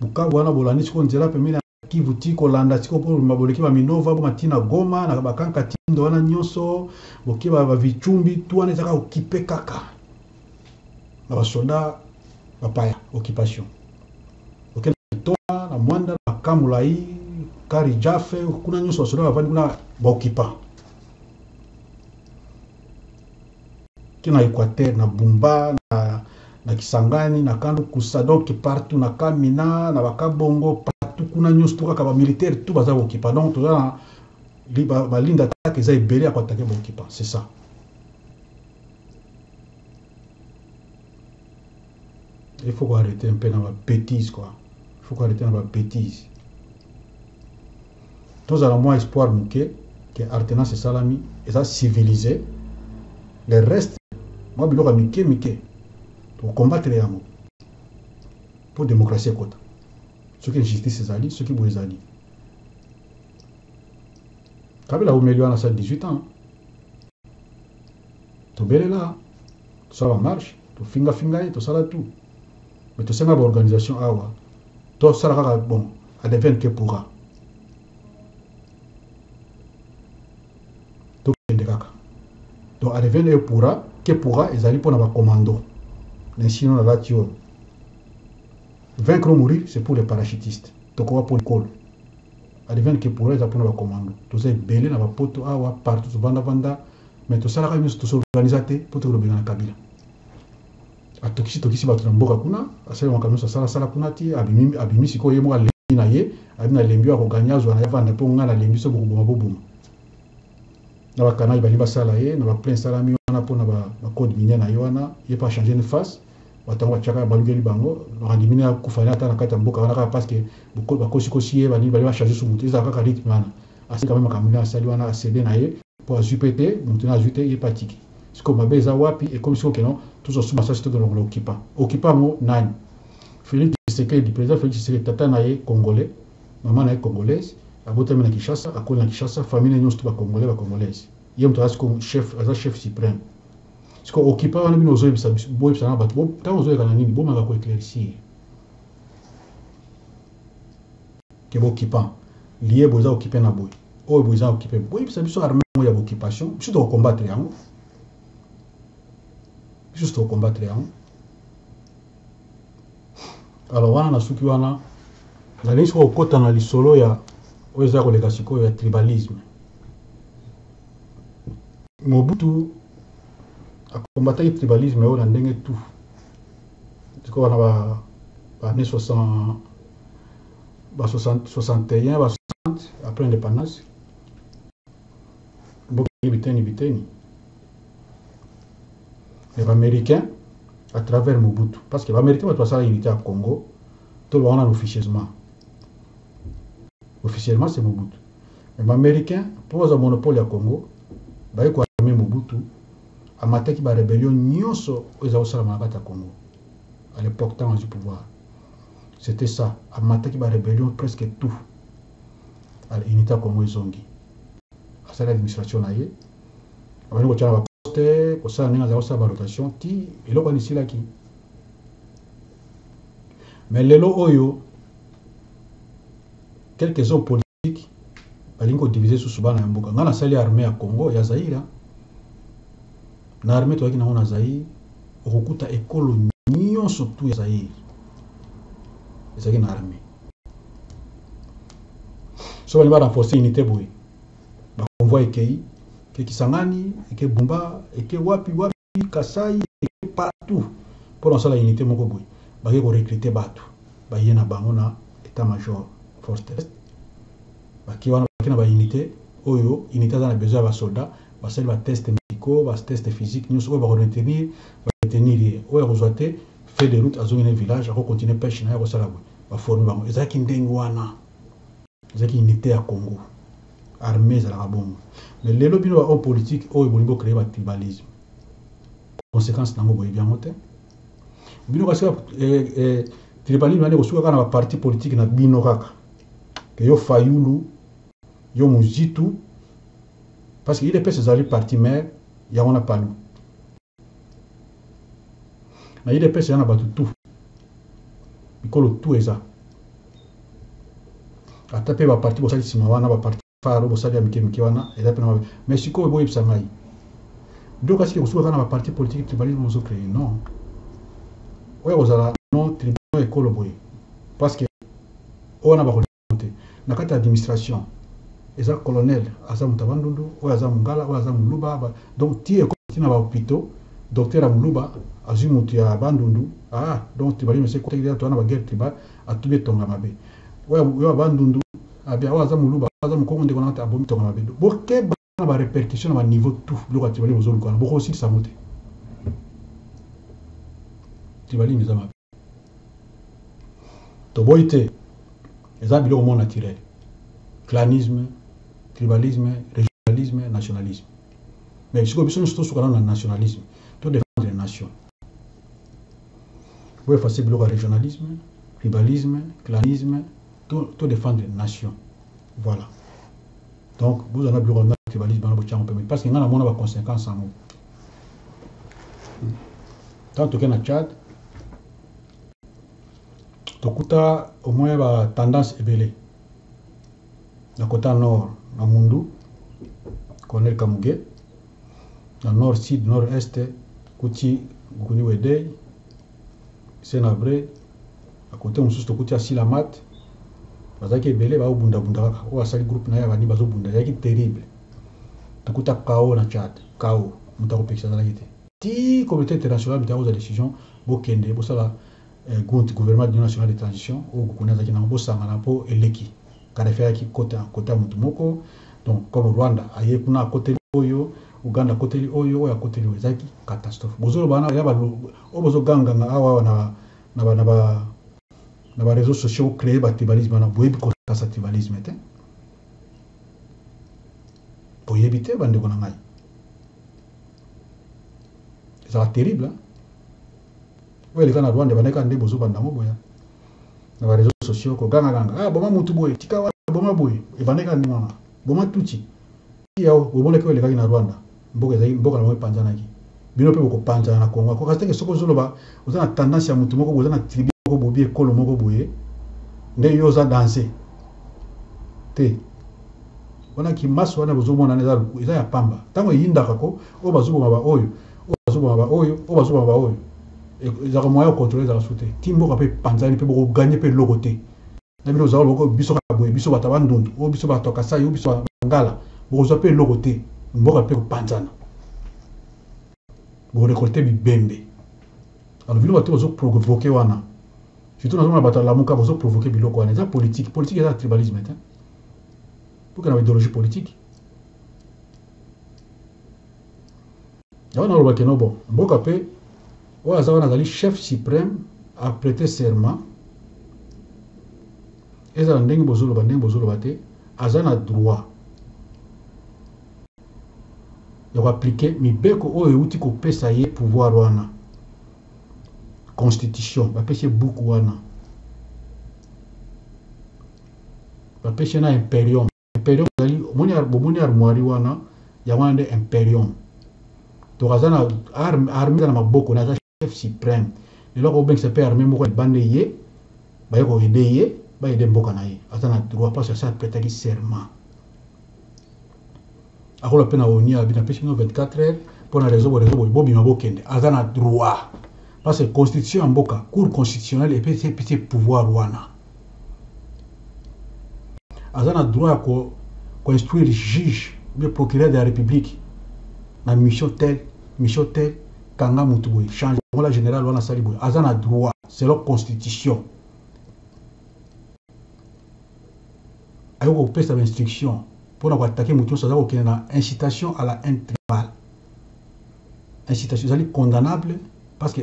Bukavu wana bolandi siko nzela pembeni ya Kivu ti kolanda siko mpo bobima boleki ba Minova boma ti na Goma na Bakan Katindo wana nyonso boke ba Vichumbi tu wana ezaka okipe kaka na basoda bapaya occupation oke na Kitona na Mwanda na Kamulai Kari Jafe kuna nyonso basoda bavandi kuna baoccupant ti na Equateur, na Bumba, na, na Kisangani, na Kando Kusa, donc partout na Kamina, na Bakabongo, partout kuna nyonso to kaka ba militaires tout baza kokipa. Donc toza na ba, ba ligne d'attaque eza ebele ya koatake bokipa, c'est ça. Il faut ko arreter un peu na ba betises quoi. Il faut ko arreter na ba betises. Tozala mwa espoir moke que artenance esalami eza civilisé. Le reste mwa biloko ya mike mike tokokombatele yango mpo demokrasi ekota soki injustice ezali soki boye ezali kabila aumeli wana sa 18 ans tobelela tosala marche tofinga finga ye tosala tout mais tosenga ba organisation awa tosala kaka bon adevienne que pourra tokende kaka donc adevienne que pourra que pourra ezali mpona bacommando na esino nalati oyo vaincre ou mourir c'est pour les parachutistes tokowa mpo likolo adivani ke pora eza mpona bakomando toza ebele na bapoto awa partout tovandavanda mais tosalaka nyonso tosorganiza te mpo tokolobela na kabila atokisi tokisi bato na mboka kuna asali makambo nyonso asala sala kuna ti abimi, abimi sikoyo ye moko alembi na ye abi na lembi oyo akoganya azwa na ye avanda mpo ngai na lembi so bokoboma boboma na bakanali balingi basala ye na baplain esalami wana mpo na bacode minier na ye wana ye mpo achange ne face bato yango batiaka balukeli bango bakandi mine akufa ne ata na kati ya mboka wana kaka parce que bakosikosi ye balingi bali bachange so moto ezala kaka rythme wana asali kame makambo nde asali wana asede na ye Po azui pe te mutu naye azui te ye pe atiki sikoyo mabe eza wapi ekomi sikoyo keno tozo sumba sasi toke longola okipa okipa yango nani Felix tshisekedi president Felix tshisekedi tata naye congolais maman naye congolaise abotami na Kinshasa akoli na Kinshasa famille naye nionso tout ba congolais ba congolaise ye mutu aza sikoyo chef aza chef supreme sikoyo okipa wana bino ozo yebisa biso bo yebisa na batu bo tango ozo leka na nini bo meka ko eclaircir ke b'occupants liye boza occupe na boye oyo boza occupe boyebisa biso armee yango ya b'occupation biso toko combattre yango biso toko combattre yango alors wana na suki wana nalingi sikoyo kokota na lisolo ya oyo eza koleka sikoyo ya tribalisme mobutu akombataki tribalisme oyo na ndenge tout Sikoyo na ba ba années 60 ba 60 61 ba 60 après indépendance bokeli biteni biteni mais baméricain à travers mobutu parce que baméricain bato basala unité ya congo toloba wana na officieusement officiellement c'est mobutu mais baméricain mpo bazwa monopole ya congo baye koarme mobutu Amataki ba rebellion nyoso oyo eza kosalama na kati ya Congo à l'epoque tango azui pouvoir c'etait ça amataki ba rebellion presque tout alors unite ya Congo ezongi asali administration na ye abandi kotia na ba poste kosala ndenge azali kosala ba rotation ti eloko wana esilaki mais lelo oyo quelques hommes politique balingi ko diviser susu bana ya mboka nga nasali armée ya Congo ya Zaire na armée toyaki nango na Zaire okokuta ekolo nyonso tout ya Zaire ezalaki na armée so balingi ba renforcer unité boye ba convoi ekei eke Kisangani eke Bumba eke wapi wapi Ituri, Kasai et partout pona kosala unite moko boye. Bake ko recruter batu baye na bango na etat major force terrestre. Bake wana bake na ba unites oyo unite aza na besoin ya ba soldats. Basali ba tests medicaux, ba tests physiques nionso oyo bako retenir ba retenir ye. Oyo akozua te feuille de route azongi na ye village ako continuer peche na ye akosala boye. Ba former bango. Ezalaki ndenge wana. Ezalaki unite ya Congo. Armee ezalaka bongo. Mais lelo bino ba homme politique oyo bolingi bo creer ba tribalisme. Consequence nango boyebi yango te. Bino kasi kaka eh, eh, tribalisme nani kosuka kaka na ba parti politique na bino kaka. Que yo Fayulu, yo Muzitu, parce que UDPS ezali parti mère, yango na Palu. na udps eza na bato tout bikolo tout eza ata mpe baparti bosali nsima wana baparti faro bosali ya mike mike wana eza mpe na mabe mais sikoyo boyebisa ngai donc asiki kosuka kaka na baparti politique tribalisme ozo créer non oyo akozala non tribunal ekolo boye parce que oyo wana bakolia te na kati ya administration eza colonel aza moto ya bandundu oyo aza mongala oyo aza moluba donc ti ekoti ti na bahopitaux docteur ya moluba azwi moto ya bandundu ah donc tribalisme esi ekotaki deja toza na baguerre tribal atubi etonga mabe oyo ya bandundu abia oyo aza moluba oyo aza mokongo ndeko na abomi tonga mabe bokeba na ba repercussion na ba niveau tout biloko ya tribalisme bozoluka wana bokosilisa yango te tribalisme eza mabe toboyi te eza biloko moko naturel clanisme tribalisme régionalisme nationalisme mais sikoyo biso nyonso tosuka nano na nationalisme to défendre nation bo efase biloko ya régionalisme tribalisme clanisme to, to défendre nation Voilà. Donc, vous avez biloko na tribalisme bana bochango pembe parce que nga na mona ba conséquences yango. Tant toke na Tchad tokuta au moins ba tendance ebele na kota nord na Mundu Colonel Kamuge na nord sud nord est kuti Bukuni Wedei Sena vrai na cote mosusu tokuti asila Math bazalaki ebele bazo bunda bunda kaka oyo asali groupe naye ya bani bazo bunda ezalaki terrible tokuta chaos na Tchad chaos mutu akopekisa azalaki te ti communaute internationale mutu akozwa decision bokende bosala gunt gouvernement d'union nationale de transition oyo Gukuni azalaki nango bosangana po eleki Kadafi ayaki kota kota mutu moko donc comme Rwanda aye kuna akoteli oyo Ouganda akoteli oyo oyo akoteli oyo ezalaki catastrophe bozo loba wana yaba oyo bozo ganga nga awa na naba naba naba reseaux sociaux cree ba tribalisme wana boyebi ko kasa tribalisme te boyebi te ba ndeko na ngai ezala terrible hein? Oyo eleka na Rwanda ebandaki kaka nde bozo banda yango boya na ba reseaux sociaux ko ganga ganga ah boma mutu boye tika wana boma boye ebandaki kaka ndenge wana boma tutsi tia o bomonaki oyo elekaki na Rwanda mboka ezali mboka na bango epanzanaki bino pe boko panzana na Congo akoka teke soki ozo loba oza na tendance ya mutu moko boye oza na tribu moko bobi ekolo moko boye nde yo oza danse te wana kimaso wana bozo mona eza eza ya pamba tango eyindaka ko oyo bazo boma ba oyo oyo bazoboma ba oyo oyo bazoboma ba oyo ezalaka moyen ya controle ezalaka su te ti mboka mpe panzani mpe bokoganye mpe eloko te na bino ozala boko biso kaka boye biso bato ya bandundu oyo biso bato ya kasai oyo biso bangala bokozwa mpe eloko te mboka mpe kopanzana bokorekolte bibembe alors bino bato bozoprovoke wana surtout nazomona bato ya lamuka bozoprovoke biloko wana eza politike politike eza tribalisme te bokenda ba idéologie politike Yango naloba keno bon mboka pe oyo aza wana azali chef supreme a prete serment ezala ndenge bozoloba ndenge bozoloba te aza na droit ya ko appliquer mibeko oyo euti kopesa ye pouvoir wana constitution bapesi ye buku wana bapesi ye na imperium imperium ezali omoni bomoni armoire wana yango wana nde imperium donc aza na arme arme eza na maboko na aza chef supreme lelo akobengisa mpe arme moko libanda ye baye koyede ye bayede mboka na ye aza na droit parce asa apretaki serment akola mpe na oni abi napesi bino 24 heures mpo na rezo borezo boye bobima bokende aza na droit parce que constitution ya mboka cour constitutionnelle epesi pouvoir wana aza na droit ya ko, ko instruire juge bien procureur de la republique na mission tel mission tel kanga mutu boye change ngola general wana sali boye aza na droit selon constitution ayo ko pesa ba instruction pona ko attaquer mutu nyonso aza ko kende na incitation à la haine tribale incitation ezali condamnable parce que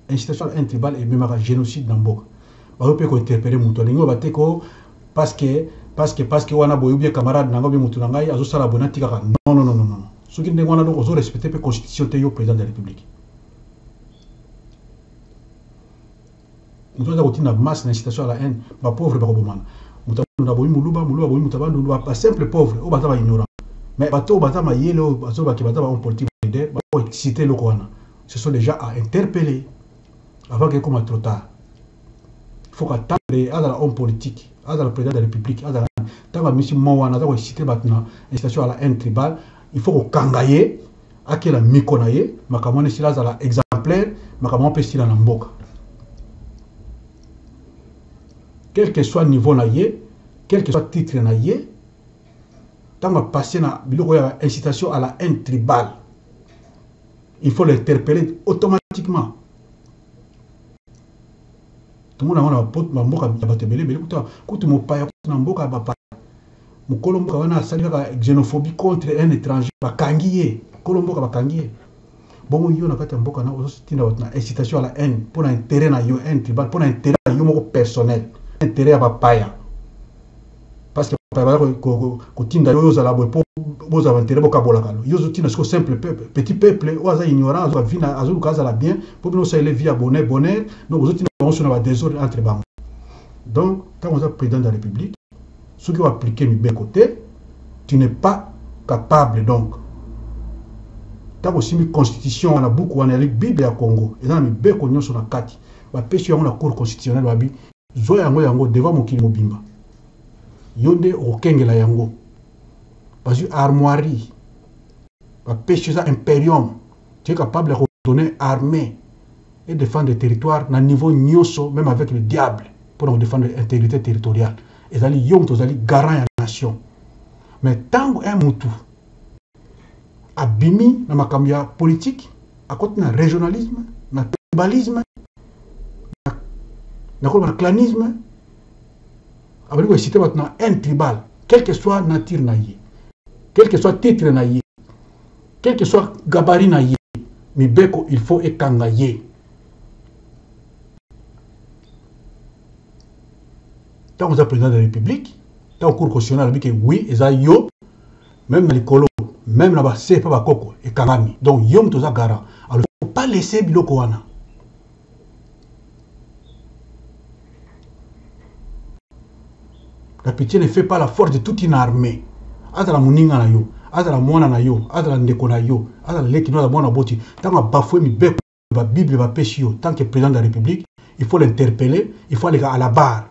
Incitation à la haine tribale ememaka genocide na mboka. Bayo pe ko interpeller mutu alingi oloba te koo parce que parce que parce que wana boye ou bien camarade na ngai ou bien mutu na ngai azo sala boye na tika ka non non non non non soki ndenge wana donc ozo respecter pe constitution te yo president de la republique. Mutu aza kotinda masse na incitation à la haine ba pauvre bako bomana mutu na boyi muluba muluba boyi mutu abandundu ba simple pauvre oyo baza ba ignorant mais bato oyo baza mayele oyo bazoloba ke baza ba homme politique ba leader ba exciter eloko wana ce sont dejà à interpeller avant que ekoma trop tard faut ka tendre azala homme politique azala président de la république azala ntango amisi mo wana aza koexcite bato na incitation à la haine tribale il faut kokanga ye akela miko na ye makambo wana esila azala exemplaire makambo wana mpe esila na mboka quel que soit niveau na ye quel que soit titre na ye ntango apase na biloko ya incitation à la haine tribale il faut l'interpeller automatiquement tomona yango na bamboka ya bato ebele ebele kuta kutu mopaya kutu na mboka ya bapaya mokolo mboka wana asali kaka xenophobie contre un étranger bakangi ye mokolo mboka bakangi ye bongo yo na kati ya mboka na ozotinda bato na incitation ya la haine mpo na intérêt na yo haine tribal mpo na intérêt na yo moko personnel intérêt ya bapaya parce que baya kotinda yo ozala boye mpo bozala baintere bokabolaka yo ozotinda siko simple peuple petit peuple oyo aza ignorant azwa vi azoluka azala bien mpo bino osalele vi ya bonheur bonheur donc ozotinda bango so na badesordre entre bango donc ntango oza président de la république soki oaplike mibeko te tu n'es pas capable donc ntango osimbi constitution wana buku wana yali bible ya congo eza na mibeko nyonso na kati bapesi yango na cour constitutionnel babi Zwa yango yango devant mokili mobimba yo nde okokengela yango bazwi armoirie bapesi eza imperium tu es capable ya kodonner armée et défendre territoire na niveau nyonso même avec le diable mpo na kodefendre intégrité territoriale ezali yo moto ozali garant ya nation mais ntango un mutu abimi na makambo ya politiki akoti na regionalisme na tribalisme nakoloba na clanisme abandi koexcite bato na haine tribal quelque soit nature na ye quelque soit titre na ye quelque soit gabari na ye mibeko il faut ekanga ye ntango oza président de la république ntango cour constitutionnel alobi ke oui eza yo meme na likolo meme na ba se pa ba koko ekangami donc yo moto oza garant alors faut pas laisser biloko wana la pitié ne fait pas la force de toute une armée azala moninga na yo azala mwana na yo azala ndeko na yo azala leki no azala mwana boti ntango abafue mibeko ba bible ba pesi yo tant que president de la republique il faut l'interpeller il faut aleka à la barre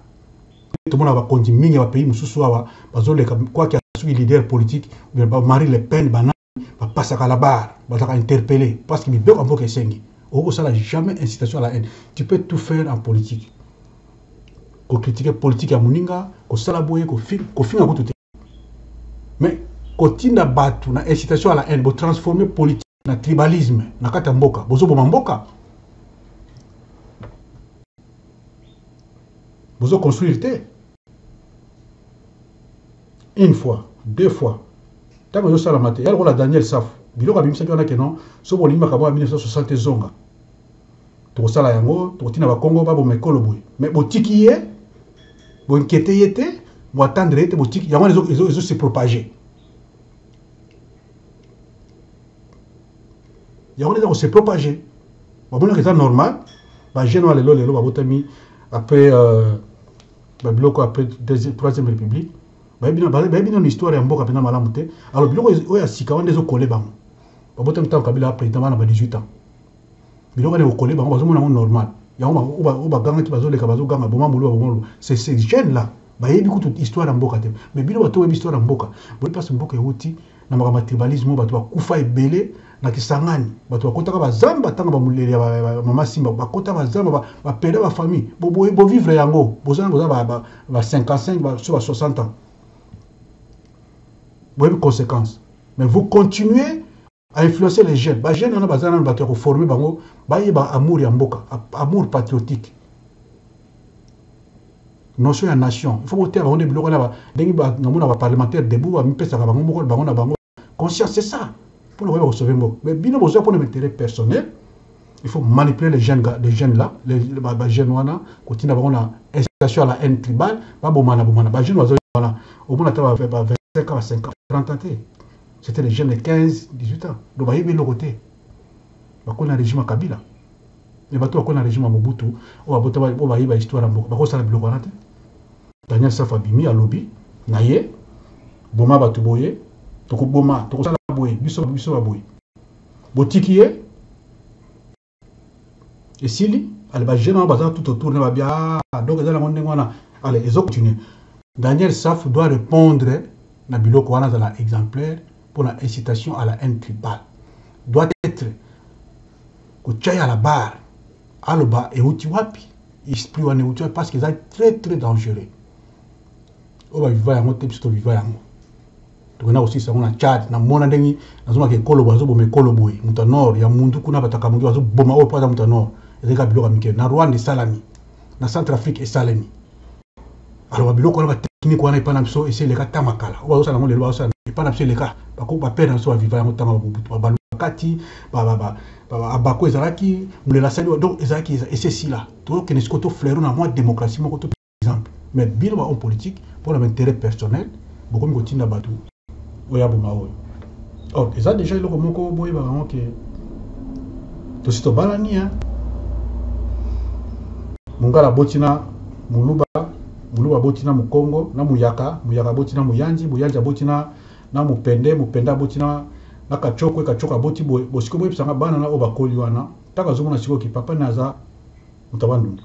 tomona ba konzi mingi ba pays mususu awa bazoleka quoi que asuki leader politique bien ba Marie Le Pen bana ba pasaka à la barre bazaka interpeller parce que mibeko mboka esengi oko sala jamais incitation à la haine tu peux tout faire en politique ko critiquer politique ya muninga ko sala boye ko fi ko finga kutu te mais kotinda batu na incitation à la haine bo transformer politique na tribalisme na kati ya mboka bozoboma mboka bozo construire te une fois deux fois ntango ezosalama te ya lokola daniel safu biloko abimisaki wana keno soki bolingi makambo ya 1960 ezonga tokosala yango tokotina bakongo baboma ekolo boye me botiki ye boinkete ye te boatendre ye te botiki yango wana ezosepropage ezo, ezo yango nde eza kose propage bamonaka eza normal bajeune wana lelo lelo babotami après euh, babiloko après troisième république bayebi nano histoire ya mboka mpenza malamu te alors biloko oyo ya sika wana ezokole bango babotami ntango kabila président bana ba 18 ans biloko na kokole bango bazomona yango normal yango oyo bagangaki bazoleka bazoganga boma moluba boma moluba c'est ces jeunes là bayebi kutu histoire ya mboka te mais bino bato oyebi histoire ya mboka boyebi mpasi mboka euti na makambo ya tribalisme oyo bato bakufa ebele na kisangani bato bakotaka bazamba ntango bamulele ya mama simba bakota bazamba bapeda bafamille boboye bovivre yango bozana boza ba 55 so ba 60 ans boyebi conséquence mais vous continuez a influencer les jeunes ba jeunes wana baza nanu bato ya koforme bango bayeba amour ya mboka amour patriotique notion ya nation il faut boteya bango nde biloko wana ndenge namona baparlementaire debout bamipesaka bango moko bango na bango conscience c'est ça mpo na koyeba kosauve mboka mais bino boza mpo na intérêt personnel il faut manipuler les jeunes, les jeunes là, les, les, les, les jeunes wana, kotina bango na incitation à la haine tribale, ba bomana bomana, ba jeunes wazo wana, au moins ata ba 25 ans, 50, 30 ans C'etait des jeunes de 15, 18 ans. Donc bayebi eloko te. Bakoli na regime ya Kabila. Mais bato bakoli na regime ya Mobutu, oyo abota oyo bayeba histoire ya mboka, bakosala biloko wana te. Daniel Safu abimi alobi na ye boma bato boye, tokoboma, tokosala boye, biso biso baboye. Botiki ye esili ale ba jeune wana baza tout autour na babia ah, donc eza nango ndenge wana ale ezo continue daniel saf doit répondre na biloko wana azala exemplaire mpo na incitation à la haine tribale doit être kotya ya la barre aloba euti wapi esprit wana euti wapi parce que eza très très dangereux oyo baviva yango te biso toviva yango tokenda kosilisa yango na Tchad na mona ndenge nazomaka ekolo boye azoboma ekolo boye moto ya nord ya mundu kuna bato ya kamundi bazoboma oyo mpo aza moto ya nord ezali kaka biloko ya mike na rwanda esalami na centre afrique esalemi aloba biloko wana bateknike wana epai na biso esi eleka ta makala oyo bazosala yango lelo bazosala epai na biso eleka bapere na biso baviva yango ntango ya bobutu babalu bakati abako ezalaki mulela asali donc ezalaki esi esila tokende sikoyo to flairo na mwa demokrasi moko exemple mais bino ba homme politique pona ba interet personnel bokomi kotinda batu oyo aboma oyo or eza deja eloko moko boyebaka yango ke tosi tobalani hein mungala aboti na muluba muluba aboti na mukongo na muyaka muyaka aboti na muyanzi muyanzi aboti na na mupende mupende aboti na na kachokwe kachokwe aboti boye bosiko boyebisanga bana na oyo bakoli wana ntango azomona sikoyo ki papa ne aza moto ya bandundu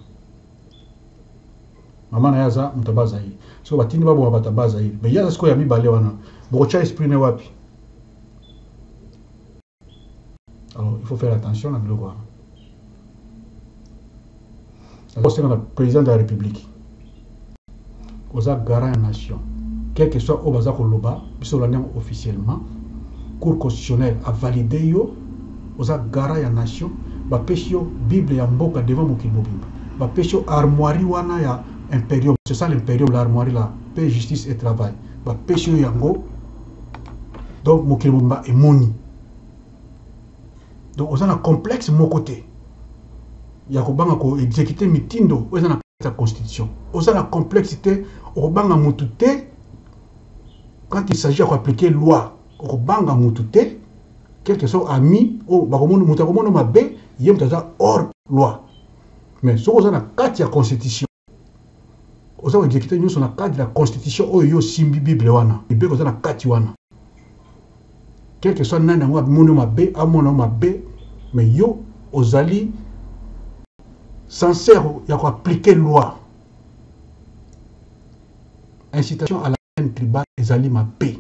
Maman na ye aza moto ya ba Zaïre. Siko batindi baboma bato ya ba Zaïre. Mais ye aza sikoyo ya mibale wana. Bokotia esprit ne wapi? Alors il faut faire attention na biloko wana. Akosenga na président de la République. Oza garant ya nation quel que soit oyo baza ko loba biso to landi yango officiellement cour constitutionnelle a valide yo oza garant ya nation ba pesi yo bible ya mboka devant mokili mobimba ba pesi yo armoirie wana ya imperium c'est ça l'imperium la armoirie la paix justice et travail ba pesi yo yango donc mokili mobimba emoni donc oza na complexe moko te ya kobanga ko exécuter mitindo oyo eza na kati ya constitution oza na complexe te okobanga mutu te quand il s'agit ya koaplike loi okobanga mutu te quelque soit ami oyo bakomona moto akomono mabe ye moto aza hors loi mais soki oza na kati ya constitution Oza ko executer nyoso na cadre ya constitution oyo yo osimbi bible wana mibeko eza na kati wana quelque soit nani yango amoni mabe amona mabe mais yo ozali sincère ya ko appliquer loi incitation à la haine tribale ezali mabe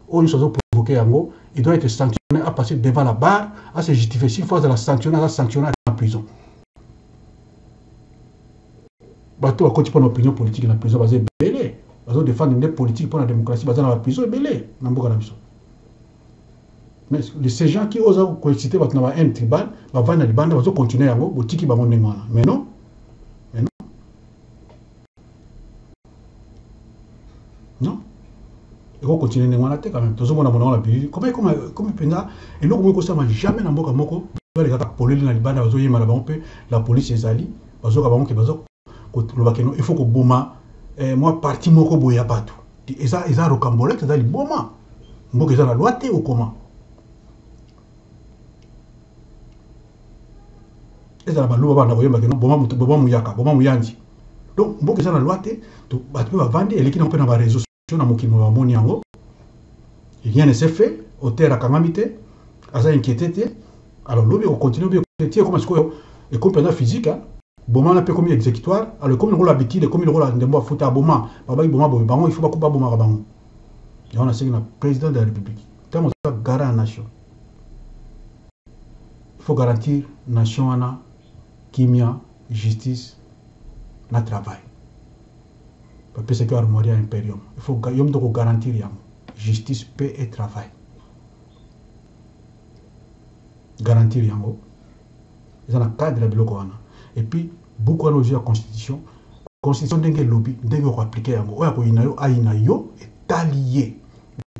oyo nyonso azo provoke yango il doit être sanctionné a passer devant la barre a se justifier s'il faut azala sanctionné aza sanctionné na prison bato bakoti mpo na opinion politique na prison baza ebele bazo défendre nde politique mpo na démocratie baza na baprison ebele na mboka na biso mais ces gens qui oza koexcite bato na ba haine tribal bavandi na libanda bazo continue yango botiki bango ndenge wana mais non non eko continuer ndenge wana te quand même tozomona monango na bilili koma ekoma ekomi mpenza eloko moko ekosama jamais na mboka moko bale kaka polele na libanda bazoyemba na bango mpe la police ezali bazoka bango ke bazo koloba keno il faut koboma eh, mwa parti moko boye ya bato eza, eza rocambolete eza liboma mboka eza na loi te okoma ezala baluba banda koyemba keno boma moto boma muyaka boma muyanzi donc mboka eza na loi te bato mpe bavandi eleki nango mpe na bareseau so na mokili mwa bamoni yango rien ne se fait auteur akangami te aza inquiete te alors lobi okontinue obi tie ekoma sikoyo ekomi mpenza physique bomana mpe ekomi exécutoire alors ekomi lokola habitude ekomi lokola ndembo afuta aboma babaki boma boye bango ifo bakuba bomaka bango yango nasengi na président de la république ntango oza gara ya nation Il faut garantir nation wana kimia, justice na travail. Ba pesaki yo armoirie ya imperium, il faut yo moto ko garantir yango, justice, paix et travail. Garantir yango eza na cadre ya biloko wana. Et puis buku wana ozwi ya constitution, constitution ndenge elobi, ndenge oko appliquer yango, oyo akoyina yo ayina yo, etali ye.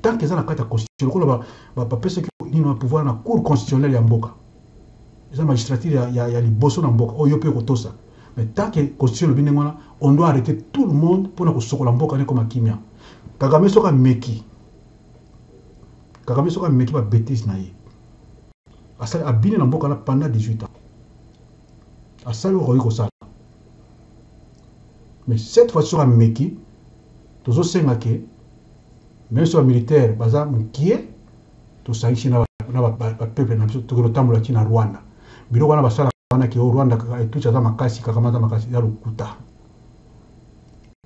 tant que eza na kati ya constitution lokola bapesaki nini na pouvoir na cour constitutionnelle ya mboka eza magistrature ya, ya, ya liboso na mboka oyo mpe kotosa mais tant que constitution elobi ndenge wana on doit arrêter tout le monde mpo na kosokola mboka ne ekoma kimia kagame soki ameki kagame soki ameki babetise na ye asali abini na mboka na pendant 18 ans asali oyo akoki kosala mais cette fois soki ameki Tozo senga que meme soki ba militaires baza mukie tosangisi na ba peuples na biso tokende kotambola ti na Rwanda. Biloko wana basalaka wana ke o Rwanda kaka et Tutsi aza makasi Kagame aza makasi eza lokuta.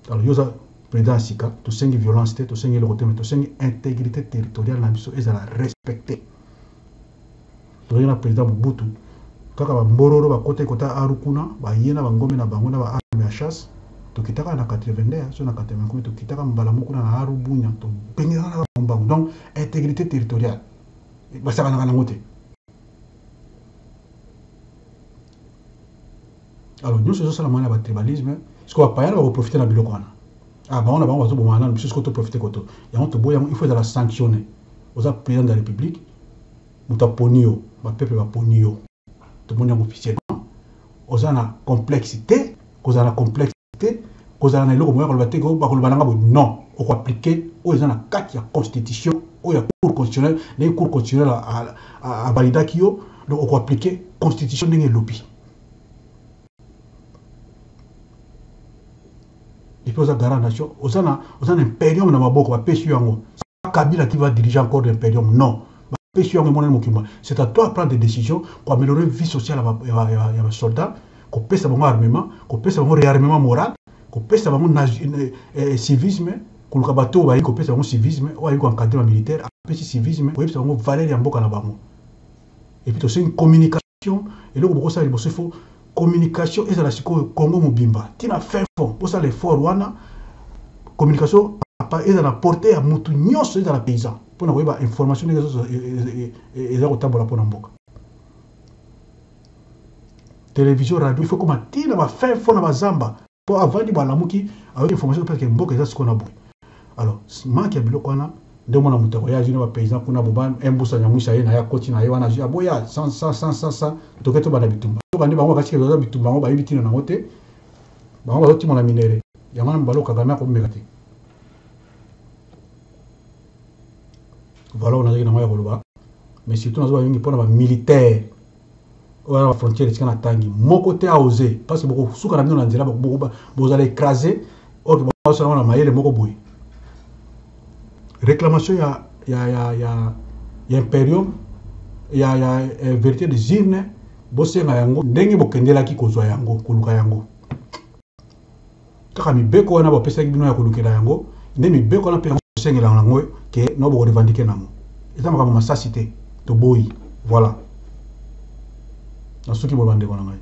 Alors yo oza president ya sika tosengi violence te tosengi eloko te mais tosengi integrite territoriale na biso ezala respecter. Tozalaki na President Mobutu, kaka ba mbororo bakotaki kota Aru kuna, baye na ba ngombe na bango na ba armes ya chasse, tokitaka na 82 soki na 80 combien, tokitaka mbala moko kuna na Aru, Bunia, tobenganaka na bango mbangu. Donc, integrite territoriale, basakanaka na yango te. alors nyonso ezosalama na batribalisme siko bapayana bakoprofite na biloko wana ah, bango na bango bazobomana nano biso siko toprofite koto yango toboyi yango ifo ezala sanctionne oza président de la république moto aponi yo bapeple baponi yo tomoni yango officiellement oza na complexe te kozala na complexe te kozala na eloko moya koloba te bakoloba nanga boye non okoaplike oyo eza na kati ya constitution oyo ya cour constitutionnel ndenge cour constitutionnel avalidaki yo donc okoaplike constitution ndenge elobi depuis oza garant nation oza na oza na imperium na maboko bapesi yo yango kabila qui va diriger encore l'imperium non bapesi yo yango emonani mokima c'est à toi prendre des décisions koaméliorer vie sociale ya basoldat kopesa bango armement kopesa bango réarmement moral kopesa bango eh, eh, civisme koluka bato oyo bayi kopesa bango civisme oyo ayi koencadre ba militaire apesi civisme koyebisa bango valeur ya mboka na bango epuis tosengi communication Eloko bokosala liboso il faut communication ezala sikoyo Congo mobimba ti na fin fond bosala effort wana communication ezala na porte ya mutu nyonso ezala paysan mpo na koyeba information ndenge ezo- e- e- e- e- eza kotambola mpo na mboka television radio il faut koma ti na ba fin fond na bazamba po avandi balamuki ayoki information parce que mboka eza sikoyo na boye alors manque ya biloko wana nde mwana moto akoya azwi na bapaysan kuna boba embusa nyamwisa ye na ye akoti na ye wana azwi aboya sansansansansa toke tobanda bitumba yoka nde bango bakasi kezoza bitumba yango bayebi ntina na yango te bango bazotimola minere yango wana mobalo kagame akomeka te valor nazalaki na yango ya koloba mais surtout nazoba mingi mpo na bamilitaire oyo na ba frontière tika na tangi moko te a oser parce que boko suka na bino na nzela boko bozala écraser or que boko sala na mayele moko boye réclamation ya ya ya ya ya imperium ya ya eh, vérité des urnes bosenga yango ndenge bokendelaki kozwa yango koluka yango kaka mibeko wana bapesaki bino ya kolukela yango nde mibeko wana mpe yango kosengela yango ke no bokorevandike nango eza makambo masasi te toboyi voilà nasuki boye bandeko na ngai